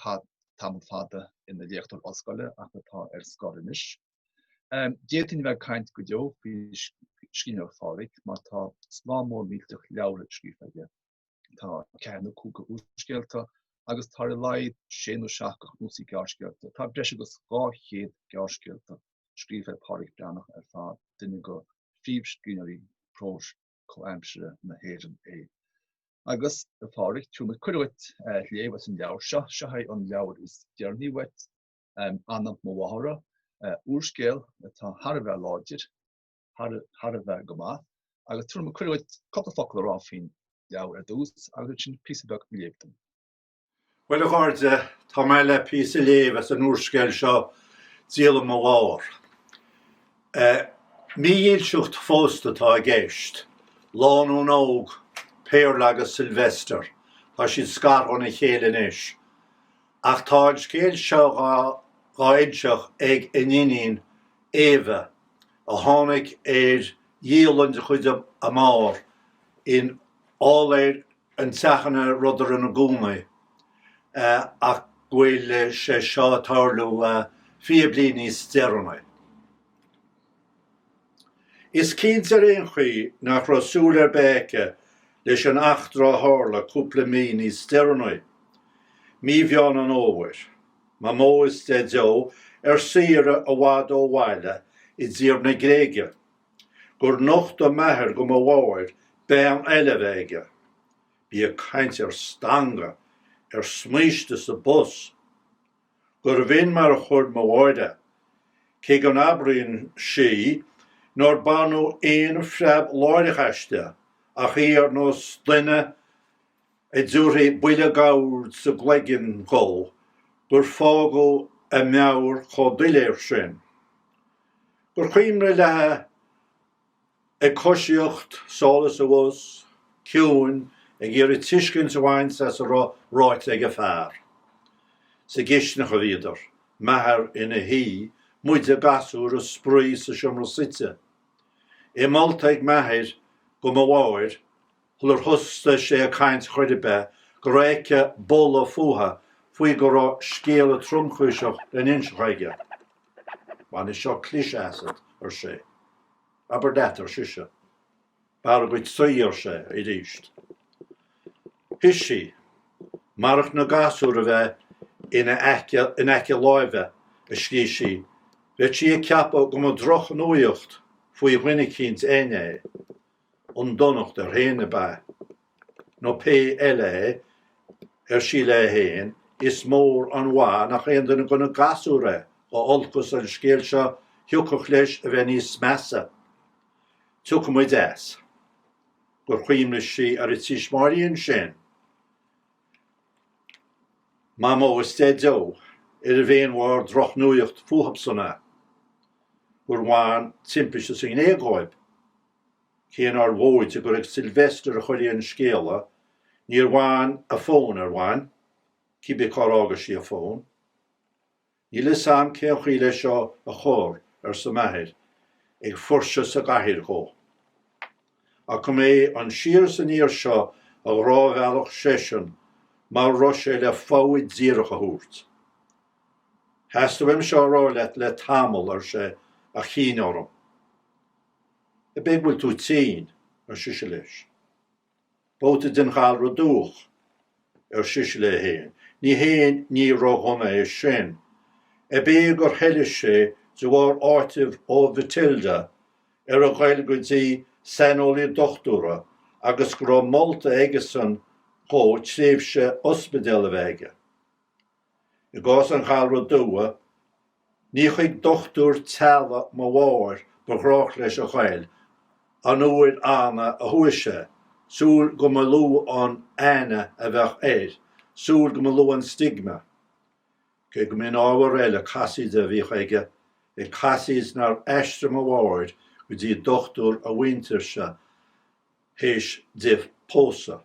Tá tamall fada ina léachtóir ollscoile ach atá ar scor anois. D'fhéadfainn a bheith ag caint go deo faoi scríbhneoireacht Phádraic mar tá slám mór millteach leabhra scríofa aige. Tá ceithre nó cúig de úrscéalta agus tá ar a laghad sé nó seacht de chnuasaigh gearrscéalta. Tá breis agus dhá chéad gearrscéal scríofa ag Pádraic Breathnach ar fad, duine de phríomhscríbhneoirí próis comhaimsire na hÉireann é. Agus, a Phádraic, tabharfaidh mé cuireadh dhuit léamh as an leabhar seo, seo é an leabhar is deireanaí uait, Dialann mo Mháthar, úrscéal atá thar a bheith láidir, thar a bheith go maith, agus tabharfaidh mé cuireadh dhuit cúpla focal a rá faoin leabhar ar dtús agus ansin píosa beag a léamh dom. Bhuel a chairde, tá mé le píosa a léamh as an úrscéal seo, Dialann mo Mháthar. Mídhílseacht phósta atá i gceist. Lánúin óg, Péarla agus Sylvester, tá siad scartha óna chéile anois. Ach tá an scéal seo dhá inseacht ag a n-iníon, Éabha, a tháinig ar dhialann de chuid a máthar in áiléar an teach ina rabhadar ina gcónaí, ach go bhfuil sé seo ag tarlú fiche bliain níos deireanaí. Is cinnte ar aon chaoi nach raibh súil ar bith aici leis an eachtra a tharla cúpla mí níos deireanaí, mí Mheán an Fhómhair. Mamó is Deaideo ar saoire i bhfad ó bhaile i dtír na Gréige gur nochtaigh m'athair go mo mháthair bean eile a bheith aige. Bí ag caint ar stangadh, ar smíste sa bpus. Gurbh in mar a chuir mo mháthair é, cé go n-abraíonn sí nár baineadh aon phreab láithreach aisti ach í ar nós duine a dtiúrfaí buille d'ord sa gcloigeann dhó, gur fágadh a meabhair chomh doiléir sin. Gur chuimhne léithe ag coisíocht, sall is abhus, ciúin, ag iarraidh tuiscint a bhaint as a raibh ráite ag a fear. Sa gcistineach a bhíodar, m'athair ina shuí, muide, gasúir ag spraoi sa seomra suite. É molta ag m'athair go mo mháthair, Shular thosaigh sé ag caint chor ar bith go raibh aici boladh fútha faoi go raibh scéala tromchúiseach le n-inseacht aige. Bainfidh seo cliseadh asat, ar sé. Abair leat, ar sise. B'fhearr dhuit suí, ar sé arís. Shuigh sí. Marach na gasúir a bheith ina aice in aice láimhe, a scríobh sí, bheadh sí ag ceapadh go mba drochnuaíocht faoi dhuine eicínt againn é. an donacht air fhéin ab ea? Nó pé eile é, ar sí léi fhéin, is mór an mhaith nach aon duine go na gasúir é, dá olcas an scéal seo thiocfadh leis a bheith níos measa. Tiocfaidh muid as. gur chuimhnigh sí ar a tuismitheoirí ansin. Mamó is Deaideo, ar a bhéin mhór drochnuaíocht fúthabsan é. gur bhain timpiste sa nGréig dhóib. Cé nár mhóide gur ag Sylvester a chuirfí an scéala, níor bhain a fón ar bhain, cibé cár fhága sí a fón. Níl 'fhios a'm cén chaoi le seo a chur, arsa m'athair, ag fuirseadh sa gcathaoir dhó. Ach go mb'é an siar is aniar seo a ghnáthbhealach seisean mara raibh sé le fogha díreach a thabhairt. Theastaigh uaim seo a rá leat le tamall, ar sé, ach chinn orm. Ab é go bhfuil tú tinn? ar sise leis. Babhta den ghalra dubhach, ar sise léi féin. Ní haon ní ródhona é sin. Ab é gur thoiligh sé de bharr áitimh ó Mhatilda ar a ghoil go dtí saineolaí dochtúra agus go raibh molta aigesan dhó tréimhse ospidéil a bheith aige. I gcás an ghalra dubhaigh, ní chuig dochtúir teaghlaigh mo mháthar ba ghnách leis a ghoil an uair annamh a chuaigh sé, súil go mba lú an aithne a bheadh air, súil go mba lú an stigma. Cé go mb'in ábhar eile casaoide a bhíodh aige, ag casaoid nár aistrigh mo mháthair go dtí dochtúir a mhuintirse théis di pósadh.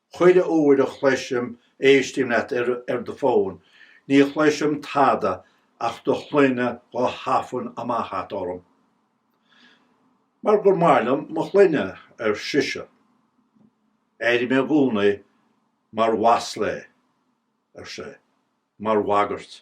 Chuile uair a chloisim, éistím leat ar, ar do fón, ní chloisim tada ach do shloinne dhá thafann amach agat orm. Mar gur maith liom mo shloinne, ar sise. Airím i gcónaí mar mhasla é, ar sé, mar bhagairt.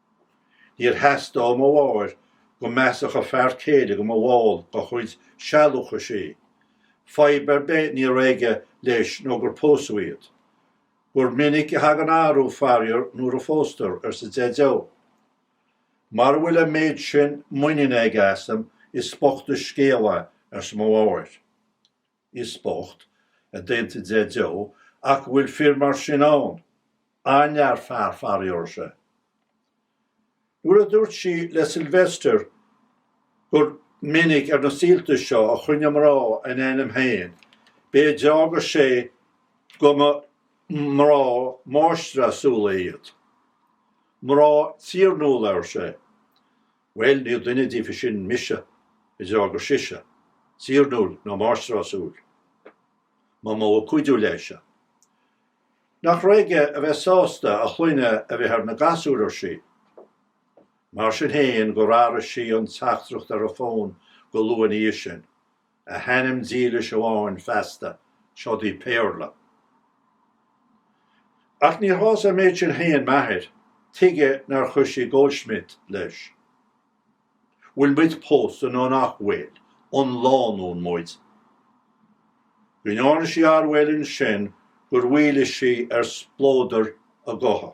Níor theastaigh ó mo mháthair go measfadh a fear céile go mba bhall dá chuid sealúchais í. Fadhb ar bith ní raibh aige leis nó gur pósadh iad. Gur minic a thagann athrú, faraor, nuair a phóstar, arsa Deaideo. Mara bhfuil an méid sin muiníne aige asam, is bocht an scéal é, arsa mo mháthair. Is bocht, a d'aontaigh Deaideo, ach go bhfuil fir mar sin ann. An-lear fear, faraor, ar sé. Nuair a dúirt sí le Sylvester gur minic ar na saolta seo a choinnigh mná a n-ainm féin, b'é a d'fhógair sé go mba mná máistreásúla iad. Mná tiarnúla, ar sé. Bhuel, ní duine díobhtha sin, mise, a d'fhreagair sise, tiarnúil ná máistreásúil, mba mhó a cuidiú leisean. Nach raibh aige a bheith sásta a shloinne a bheith ar na gasúir, ar sí. Mar sin fhéin, gur athraigh sí an teachtaireacht ar a fón go luath ina dhiaidh sin, a hainm dílis amháin feasta, seod í Péarla. Ach níor shásaigh an méid sin féin m'athair, tuige nár chuir sí Goldschmidt leis? Bhfuil muid pósta nó nach bhfuil, an lánúin muid? Go ndearna sí ardmhail ansin gur mhaolaigh sí ar spleodar a gutha.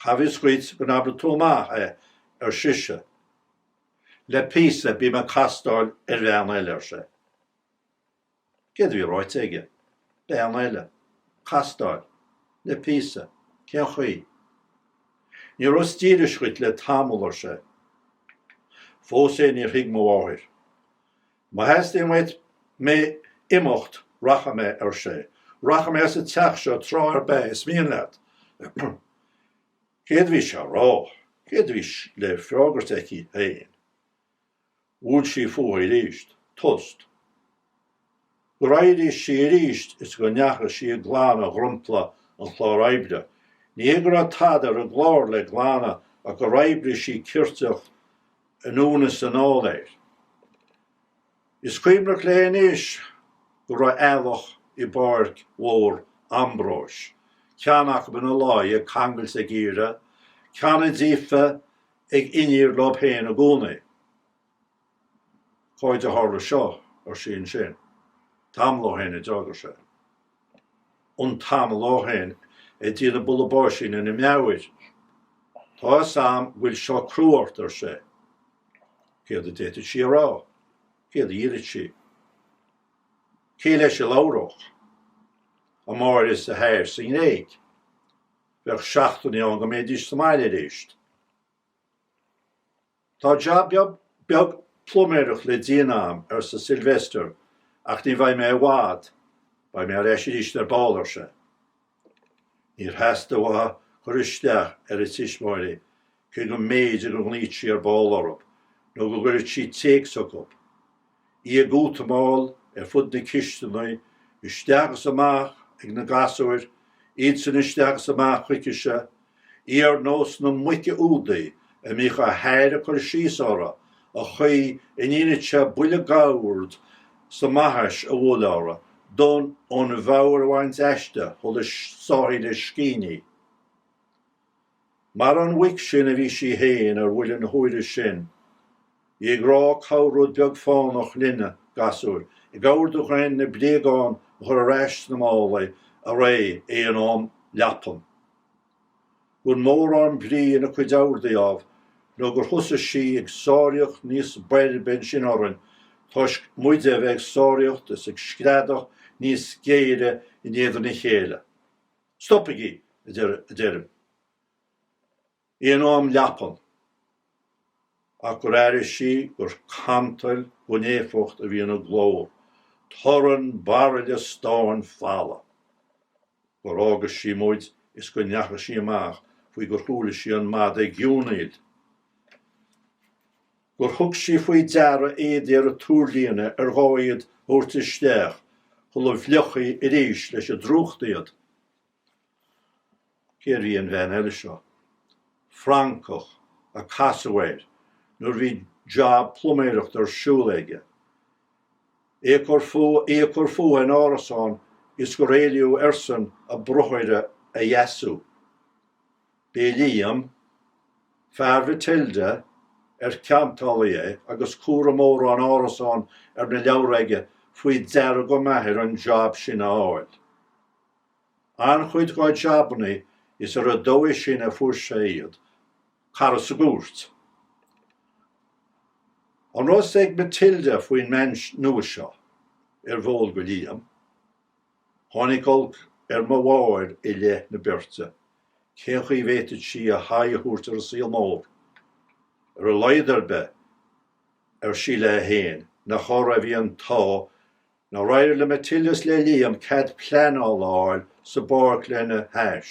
Cá bhfios dhuit go n-abradh tú amach é, ar sise. Le píosa bím ag castáil ar bhean eile, ar sé. Céard a bhí ráite aige? Bean eile. Castáil. Le píosa. Cén chaoi? Ní rabhas dílis dhuit le tamall, ar sé. Fós féin níor thuig mo mháthair. Má theastaíonn uait mé imeacht, rachaidh mé, ar sé. Rachaidh mé as an teach seo tráth ar bith is mian leat. Céard a bhí sé a rá? Céard a bhí le freagairt aici féin? Bhuail sí fúithi arís. Tost. Gur éirigh sí arís is go ndeachaigh sí ag glanadh dhrompla an chlár oibre. Ní hé go raibh tada ar an gclár le glanadh ach gur oibrigh sí ceirteach anonn is anall air. Is cuimhneach léi anois go raibh eallach i bPáirc Mhór Ambróis, ceanna acu ina luí ag cangailt a gcíre, ceanna díofa ag iníor leo féin i gcónaí. Cáide ó tharla seo? ar sí ansin. Tamall ó shin a d'fhreagair sé. An tamall ó shin ag déanamh bulla báisín ina meabhair. Tá 'fhios a'm go bhfuil seo crua ort ar sé. Céard a d'fhéadfadh sí a rá? Céard a iarrfadh sí? Cé leis a labhródh? A máthair is a hathair sa nGréig. Bheadh seachtainí ann go mbeidís sa mbaile arís. Tá jab beag pluiméireacht le déanamh a'am, arsa Sylvester, ach ní bheidh mé i bhfad. Beidh mé ar ais aríst ar ball, ar sé. Níor theastaigh uaithi cur isteach ar a tuismitheoirí, cé go mb'fhéidir go nglaofadh sí ar ball orthub, nó go gcuirfeadh sí téacs chucub. Í ag útamáil ar fud na cisteanaí, isteach is amach ag na gasúir, iadsan isteach is amach chuicise, í ar nós na muice údaí a mbíodh a hathair ag cur síos uirthi, an chaoi a ndéantaí buille dh'ord sa mbaithis a bhualadh uirthi d'fhonn an mheabhair a bhaint aisti shula sáfaí an scian inti. Mar an mhuic sin a bhí sí fhéin ar bhuille na huaire sin, í ag rá corr-rud beag fánach linne, a gasúir, ag ordú dhúinn na bréagáin a chur ar ais sna málaí arae é in am leapan. Gan mórán brí ina cuid orduithe, ámh, nó gur thosaigh sí ag sáraíocht níos boirbe ansin orainn toisc muide a bheith ag sáraíocht is ag screadach níos géire in éadan a chéile. Stopaigí, a deirim. Bhí in am leapthan. Ach gur airigh sí gur cantal gan éifeacht a bhí ina glór, torann baraille stáin falamh. Gur fhága sí muid is go ndeachaigh sí amach faoi gur chuala sí an madadh ag giúnaíl. gur thug sí faoi deara éadaí ar an tuarlíne ar ghá iad a thabhairt isteach shula bhfliuchfaí arís leis an drúcht iad. Cérbh í an bhean eile seo? Francach a casadh air nuair a bhí jab pluiméireachta ar siúl aige. Í ag cur fúithi in árasán is gur éilíodh airsean a bruthaire a dheasú. B'é Liam, fear Mhatilda, ar cheantálaí é agus cúram mórán árasán ar na leabhra aige faoi deara go maith air an jab sin a fháil. An-chuid dá jabannaí is ar an dóigh sin a fuair sé iad, cara sa gcúirt. An raibh fhios ag Matilda faoin mbean nua seo? Arbh eol do Liam? Tháinig olc ar mo mháthair i leith na beirte. Cén chaoi a bhféadfadh sí a haghaidh a thabhairt ar an saol mór? Ar a laghad ar bith, ar sí léi féin, nach orthu a bhí an t-ádh nár éirigh le Matilda is le Liam cead pleanála a fháil sa bpáirc lena hais.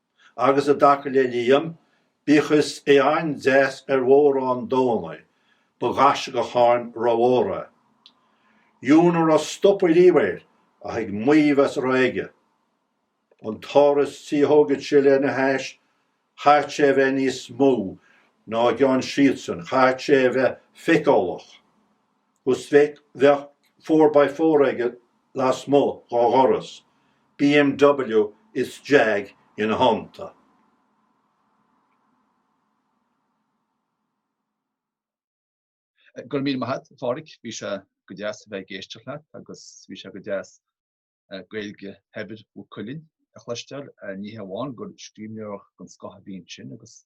Agus i dtaca le Liam, bíodh is é an-deas ar mhórán dóigheanna, ba ghaisceachán rómhór é. Dheamhan a raibh stopadh riamh air ach ag maíomh as a raibh aige. An t-áras tí a thógfad sé lena hais, chaithfead sé a bheith níos mó ná a gceann siadsan, chaithfead sé a bheith feiceálach. Is bheadh four by four aige lasmuigh dhá dhoras, BMW is Jag ina theannta. Go raibh míle maith agat, Phádraig. Bhí sé go deas a bheith ag éisteacht leat agus bhí sé go deas Gaeilge shaibhir Mhaigh Cuilinn a chloisteáil. Ní hé amháin gur scríbhneoireacht den scoth a bhí ansin agus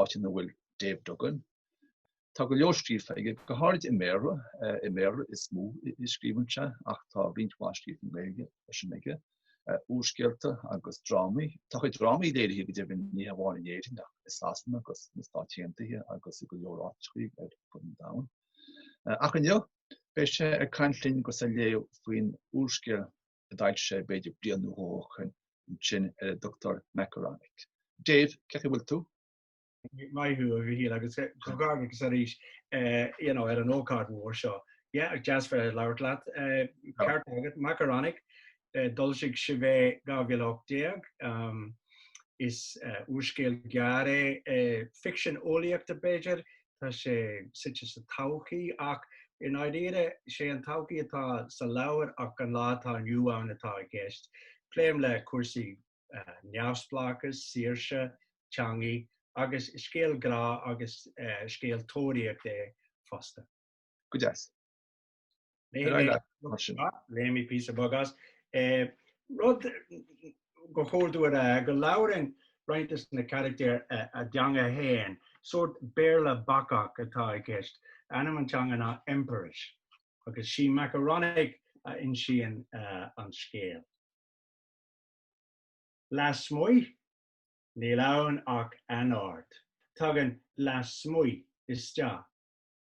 áit ina bhfuil Dave Duggan. Tá go leor scríofa aige, go háirid i mBéarla, i mBéarla is mó a scríobhann sé ach tá roinnt mhaith scríofa i nGaeilge freisin aige, úrscéalta agus drámaí. Tá a chuid drámaí léirithe go deimhin ní hamháin in Éirinn ach i Sasana agus sna Stáit Aontaithe agus i go leor áiteacha ar fud an domhain. Ach inniu beidh sé ag caint linn agus ag léamh faoin úrscéal a d'fhoilsigh sé b'fhéidir bliain nó dhó ó shoin ansin ar a dtugtar Makaronik. Dave, cén chaoi a bhfuil tú? Maith a Mhichíl agus comhghairdeas arís you know ar an ócáid mhór seo. Yeah, go deas bheith ag labhairt leat. Ceart agat, Makaronik, d'fhoilsigh sibh é 2018. umm is úrscéal gearr é, ficsean eolaíochta b'fhéidir, tá sé suite sa todhchaí ach i ndáiríre sé an todhchaí atá sa leabhar ach an lá atá inniu ann atá i gceist. Pléim le cúrsaí neamhspleáchas, saoirse, teangaí agus is scéal grá agus scéal tóraíocht é fosta. Go deas. Léifidh mé píosa beag as. Rud gur chóir domh a rá, go labhraíonn roinnt de na carachtair a dteanga féin, sórt Béarla bacach atá i gceist. Ainm an teanga ná Empirish agus sí Makaronik a insíonn an scéal. Lasmuigh? Níl ann ach anord. Tagann lasmuigh isteach.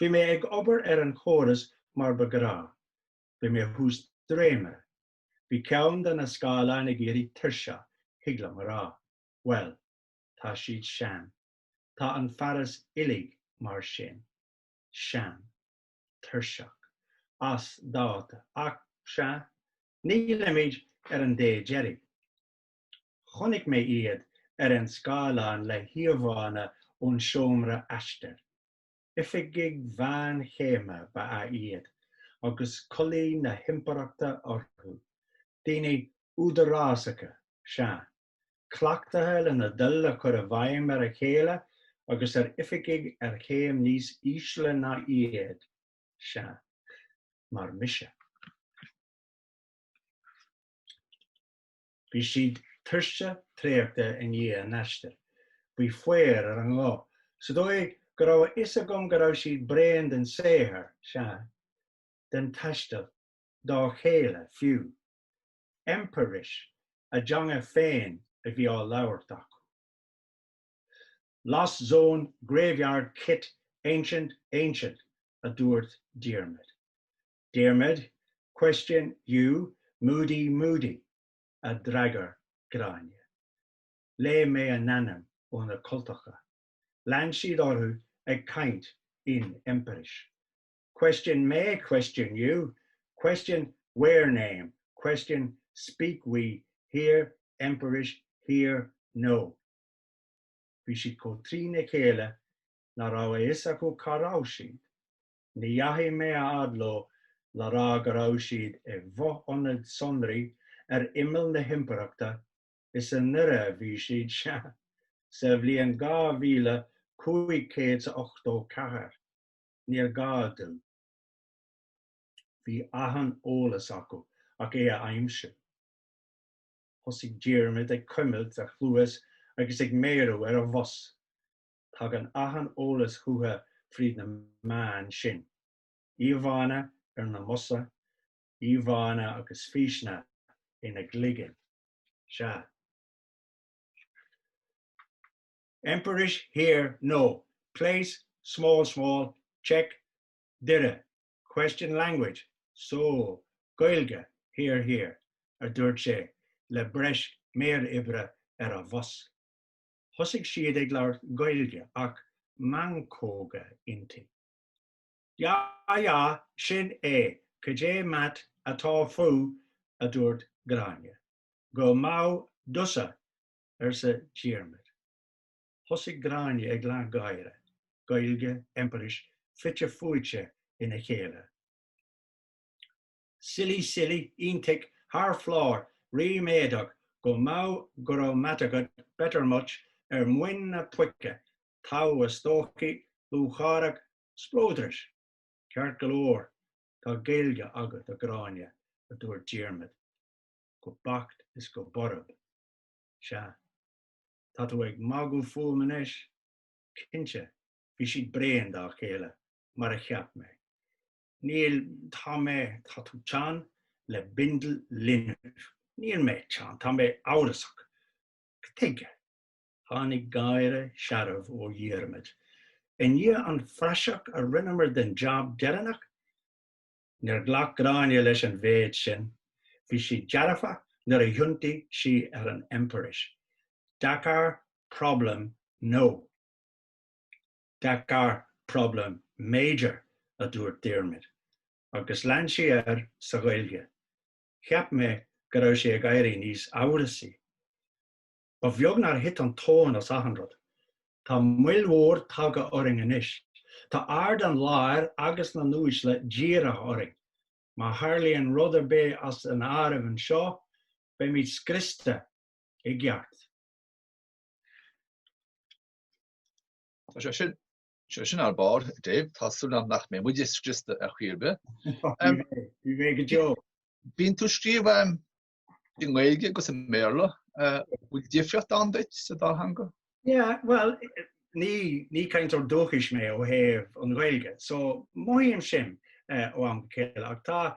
Bhí mé ag obair ar an chóras mar ba ghnách. Bhí mé thuas dréimire. Bhí ceann de na scáileáin ag éirí tuirseach, thig liom a rá. Bhuel, tá siad sean. Tá an fearas uilig mar sin. Sean. Tuirseach. As dáta. Ach, sea, nílimid ar an dé deiridh. Chonaic mé iad ar an scáileán le híomhánna ón seomra aistir. Oifigigh mheánchéime ba ea iad agus culaith na hImpireachta orthu, daoine údarásacha, sea, cleachtaithe lena dtoil a chur i bhfeidhm ar a chéile agus ar oifigigh ar chéim níos ísle ná iad, sea, mar mise. Bhí siad tuirseach traochta i ndiaidh a n-aistir. Bhí faobhar ar a nguth, sa dóigh go raibh a fhios agam go raibh siad bréan den saothar, sea, den taisteal, dá chéile, fiú. Empirish, a dteanga féin a bhí á labhairt acu. Lost zone, graveyard chit, ancient, ancient, a dúirt Diarmaid. Question you Moody Moody, a d'fhreagair Gráinne. Léigh mé a n-ainm ó na cultacha. Lean siad orthu ag caint in Empirish. Question me Question you Question where name Question speak we here Empirish here no Bhí siad chomh trína chéile nach raibh a fhios acu cá raibh siad. Ní dheachaigh mé a fhad leo le rá go raibh siad i bhfo-ionad sonraí ar imeall na himpireachta, is i nDoire a bhí siad, sea, sa bhliain 2584. Níor ghá dom. Bhí achan eolas acu ach é a aimsiú. Thosaigh Diarmaid ag cuimilt a chluas agus ag méarú ar a bhos. tagann achan eolas chucha fríd na meáin sin, íomhánna ar na mbosa, íomhánna agus físeanna ina gcloigeann. Sea. Empirish here, no. Place, small, small, check, Doire, question language, so, Gaeilge, here, here, a dúirt sé, le breis méaroibre ar a bhos. Thosaigh siad ag labhairt Gaeilge ach meancóga inti. Ya ya, sin é, cad é mat atá fú, a dúirt Gráinne. Go maith, dusa, arsa Diarmaid. Thosaigh Gráinne ag leathgháire, Gaeilge, Empirish, fite fuaite ina chéile. Silly, silly, iontic, thar flor, ríméadach, go maith, go raibh meat agat, better much, ar mhuin na puice, togha, is dóichí, lúcháireach, spleodrach. Ceart go leor, tá Gaeilge agat, a Ghráinne, a dúirt Diarmaid go beacht is go borb. Sea. Tá tú ag magadh fúm anois? Cinnte, bhí siad bréan dá chéile, mar a cheap mé. Níl, tá mé, tá tú teann le bindeal linbh. Níl mé teann, tá mé amhrasach. Tuige? Tháinig gáire searbh ó Dhiarmaid. I ndiaidh an phraiseach a rinneamar den jab deireanach? Níor ghlac Gráinne leis an mhéid sin. Bhí sí dearfa nuair a thiontaigh sí ar an Empirish. Deacair, problem, no. Deacair problem major, a dúirt Diarmaid, agus lean sé air sa Ghaeilge, Cheap mé go raibh sé ag éirí níos amhrasaí. Ba bheag nár thit an tóin as achan rud. Tá moill mhór tagtha orainn anois. Tá aird an láir agus na n-uaisle dírithe orainn. Má tharlaíonn rud ar bith as an áireamh anseo, beimid scriosta i gceart. Tá sé sin, sé sin ar barr, Dave, tá súil agam nach mbeidh muid scriosta ar chor ar bith. Ní bheidh go deo. Bíonn tú ag scríobh i nGaeilge agus i mBéarla. Bhfuil difríocht ann duit sa dá theanga? Yeah, bhuel, ní, ní cainteoir dúchais mé ó thaobh na Gaeilge, so mothaím sin ó am go chéile ach tá,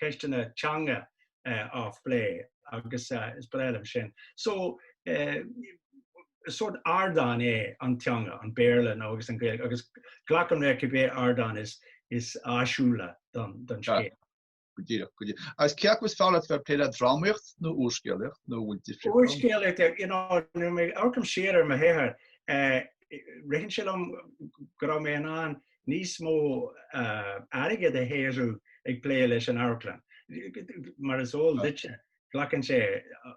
ceisteanna teanga á phlé agus is breá liom sin. So is sórt ardán é an teanga, an Béarla nó agus an Gaeilge agus glacaim le cibé ardán is is áisiúla don don scéal. Go díreach, go díreach. Agus cé acu is fearr leat bheith ag plé le drámaíocht nó úrscéalaíocht nó bhfuil difríocht ann? Úrscéalaíocht, eh, you know, nuair a amharcaim siar ar mo shaothar, eh, ritheann sé liom go raibh mé in ann níos mó airgid a shaothrú ag plé leis an amharclann. Mar is eol duitse, glacann sé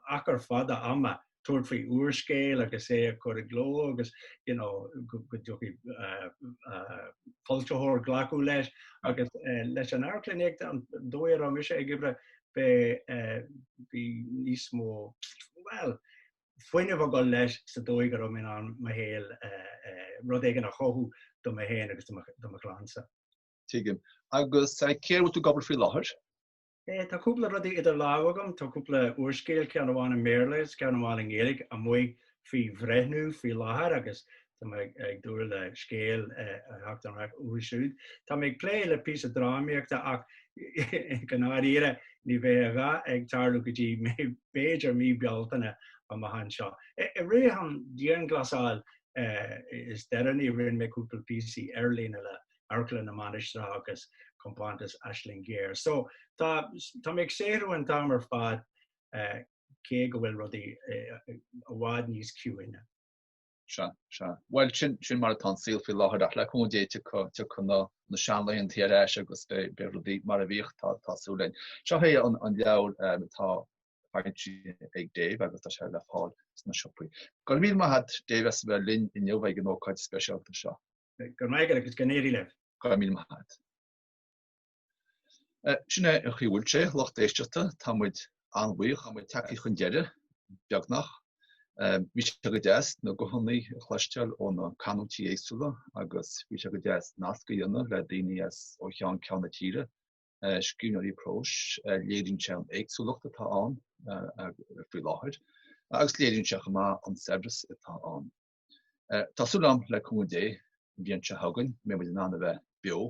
achar fada ama tabhairt faoi úrscéal agus é a chur i gcló agus you know go dtiocfadh le foilsitheoir glacadh leis. Agus leis an amharclann tríd an dóigh a raibh mise ag oibre, bhí níos mó, bhuel, fuinneamh ag dul leis sa dóigh go raibh mé in ann mo shaol, rud éigin a chothú do mé féin agus do mo chlansa. Tuigim. Agus céard air a bhfuil tú ag obair faoi láthair? Tá cúpla rudaí idir lámha agam. Tá cúpla úrscéal, ceann amháin i mBéarla is ceann amháin i nGaeilge, amuigh faoi bhreithniú faoi láthair agus Tá mé ag dúil le scéal a theacht ar ais uathu siúd. Tá mé ag plé le píosa drámaíochta ach i ndáiríre ní bheidh a dhath ag tarlú go dtí b'fhéidir mí Bealtaine nó Meitheamh so. I rith an dianghlasáil is deireanaí rinne mé cúpla píosaí ar líne le hAmharclann na Mainistreach agus Compántas Aisling Ghéar. So tá tá mé ag saothrú an t-am ar fad cé go bhfuil rudaí i bhfad níos ciúine. Sea, sea. Bhuel, sin, sin mar atá an saol faoi láthair ach le cúnamh Dé tiocfaidh, tiocfaidh na, na seanlaethanta ar ais agus beidh, beidh rudaí mar a bhíodh, tá, tá súil againn. Seo é an, an leabhar, eh, atá, foilsithe ag Dave agus tá sé le fáil sna siopaí. Go raibh míle maith agat, Dave, as a bheith linn inniu ag an ócáid speisialta seo. Go raibh maith agat agus go n-éirí libh. Go raibh míle maith agat. Sin é an chaoi a bhfuil sé, lucht éisteachta. Tá muid an-bhuíoch. Tá muid tagtha chun deireadh, beagnach. Bhí sé go deas na guthanna a chloisteáil ó na canúintí éagsúla agus bhí sé go deas nasc a dhéanamh le daoine as ó cheann ceann na tíre, scríbhneoirí próis. Léiríonn sé an éagsúlacht atá ann faoi láthair agus léiríonn sé chomh maith an saibhreas atá ann. Tá súil agam le cúnamh Dé an bhliain seo chugainn, beidh muid in ann a bheith beo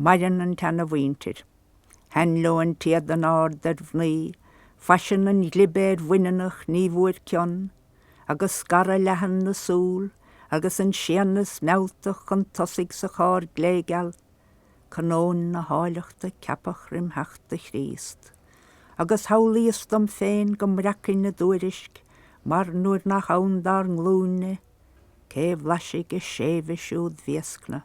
Maireann an tseana-mhuintir. Thaithin leo an t-éadan ard ar mhnaoi, faisean an ghlibe ar bhaineannach ní bhfuair cion, agus scaradh leathan na súl agus an séanas mealltach chun tosaigh sa chár gléigeal, canóin na háilleachta ceapadh roimh theacht do Chríost. Agus shamhlaíos dom féin go mbreacfainn a dtuairisc, mar nuair nach ann dár nglúin-ne, cé bhlaisfidh a séimhe siúd bhéascna?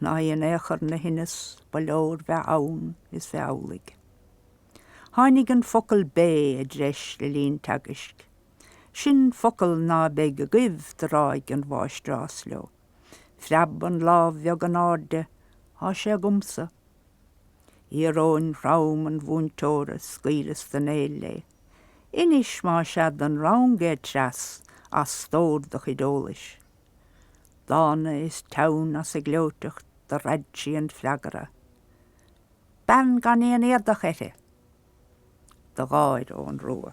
ná í in aon chor 'na thinneas ba leor bheith ann is bheith amhlaidh. Tháinig an focal bé i dtreis le linn teagaisc. Sin focal ná beidh agaibh do ráidh an mháistreás leo. Phreab an lámh bheag in airde, Tá sé agamsa. Íoróin throm an mhúinteora, scaoileas den éill léi. Inis má sea don rang é Treas as stór do chuid eolais. Dána is teann as a gleoiteacht do raid sí an freagra, Bean gan aon éadach uirthi! do gháir Eoghan Rua.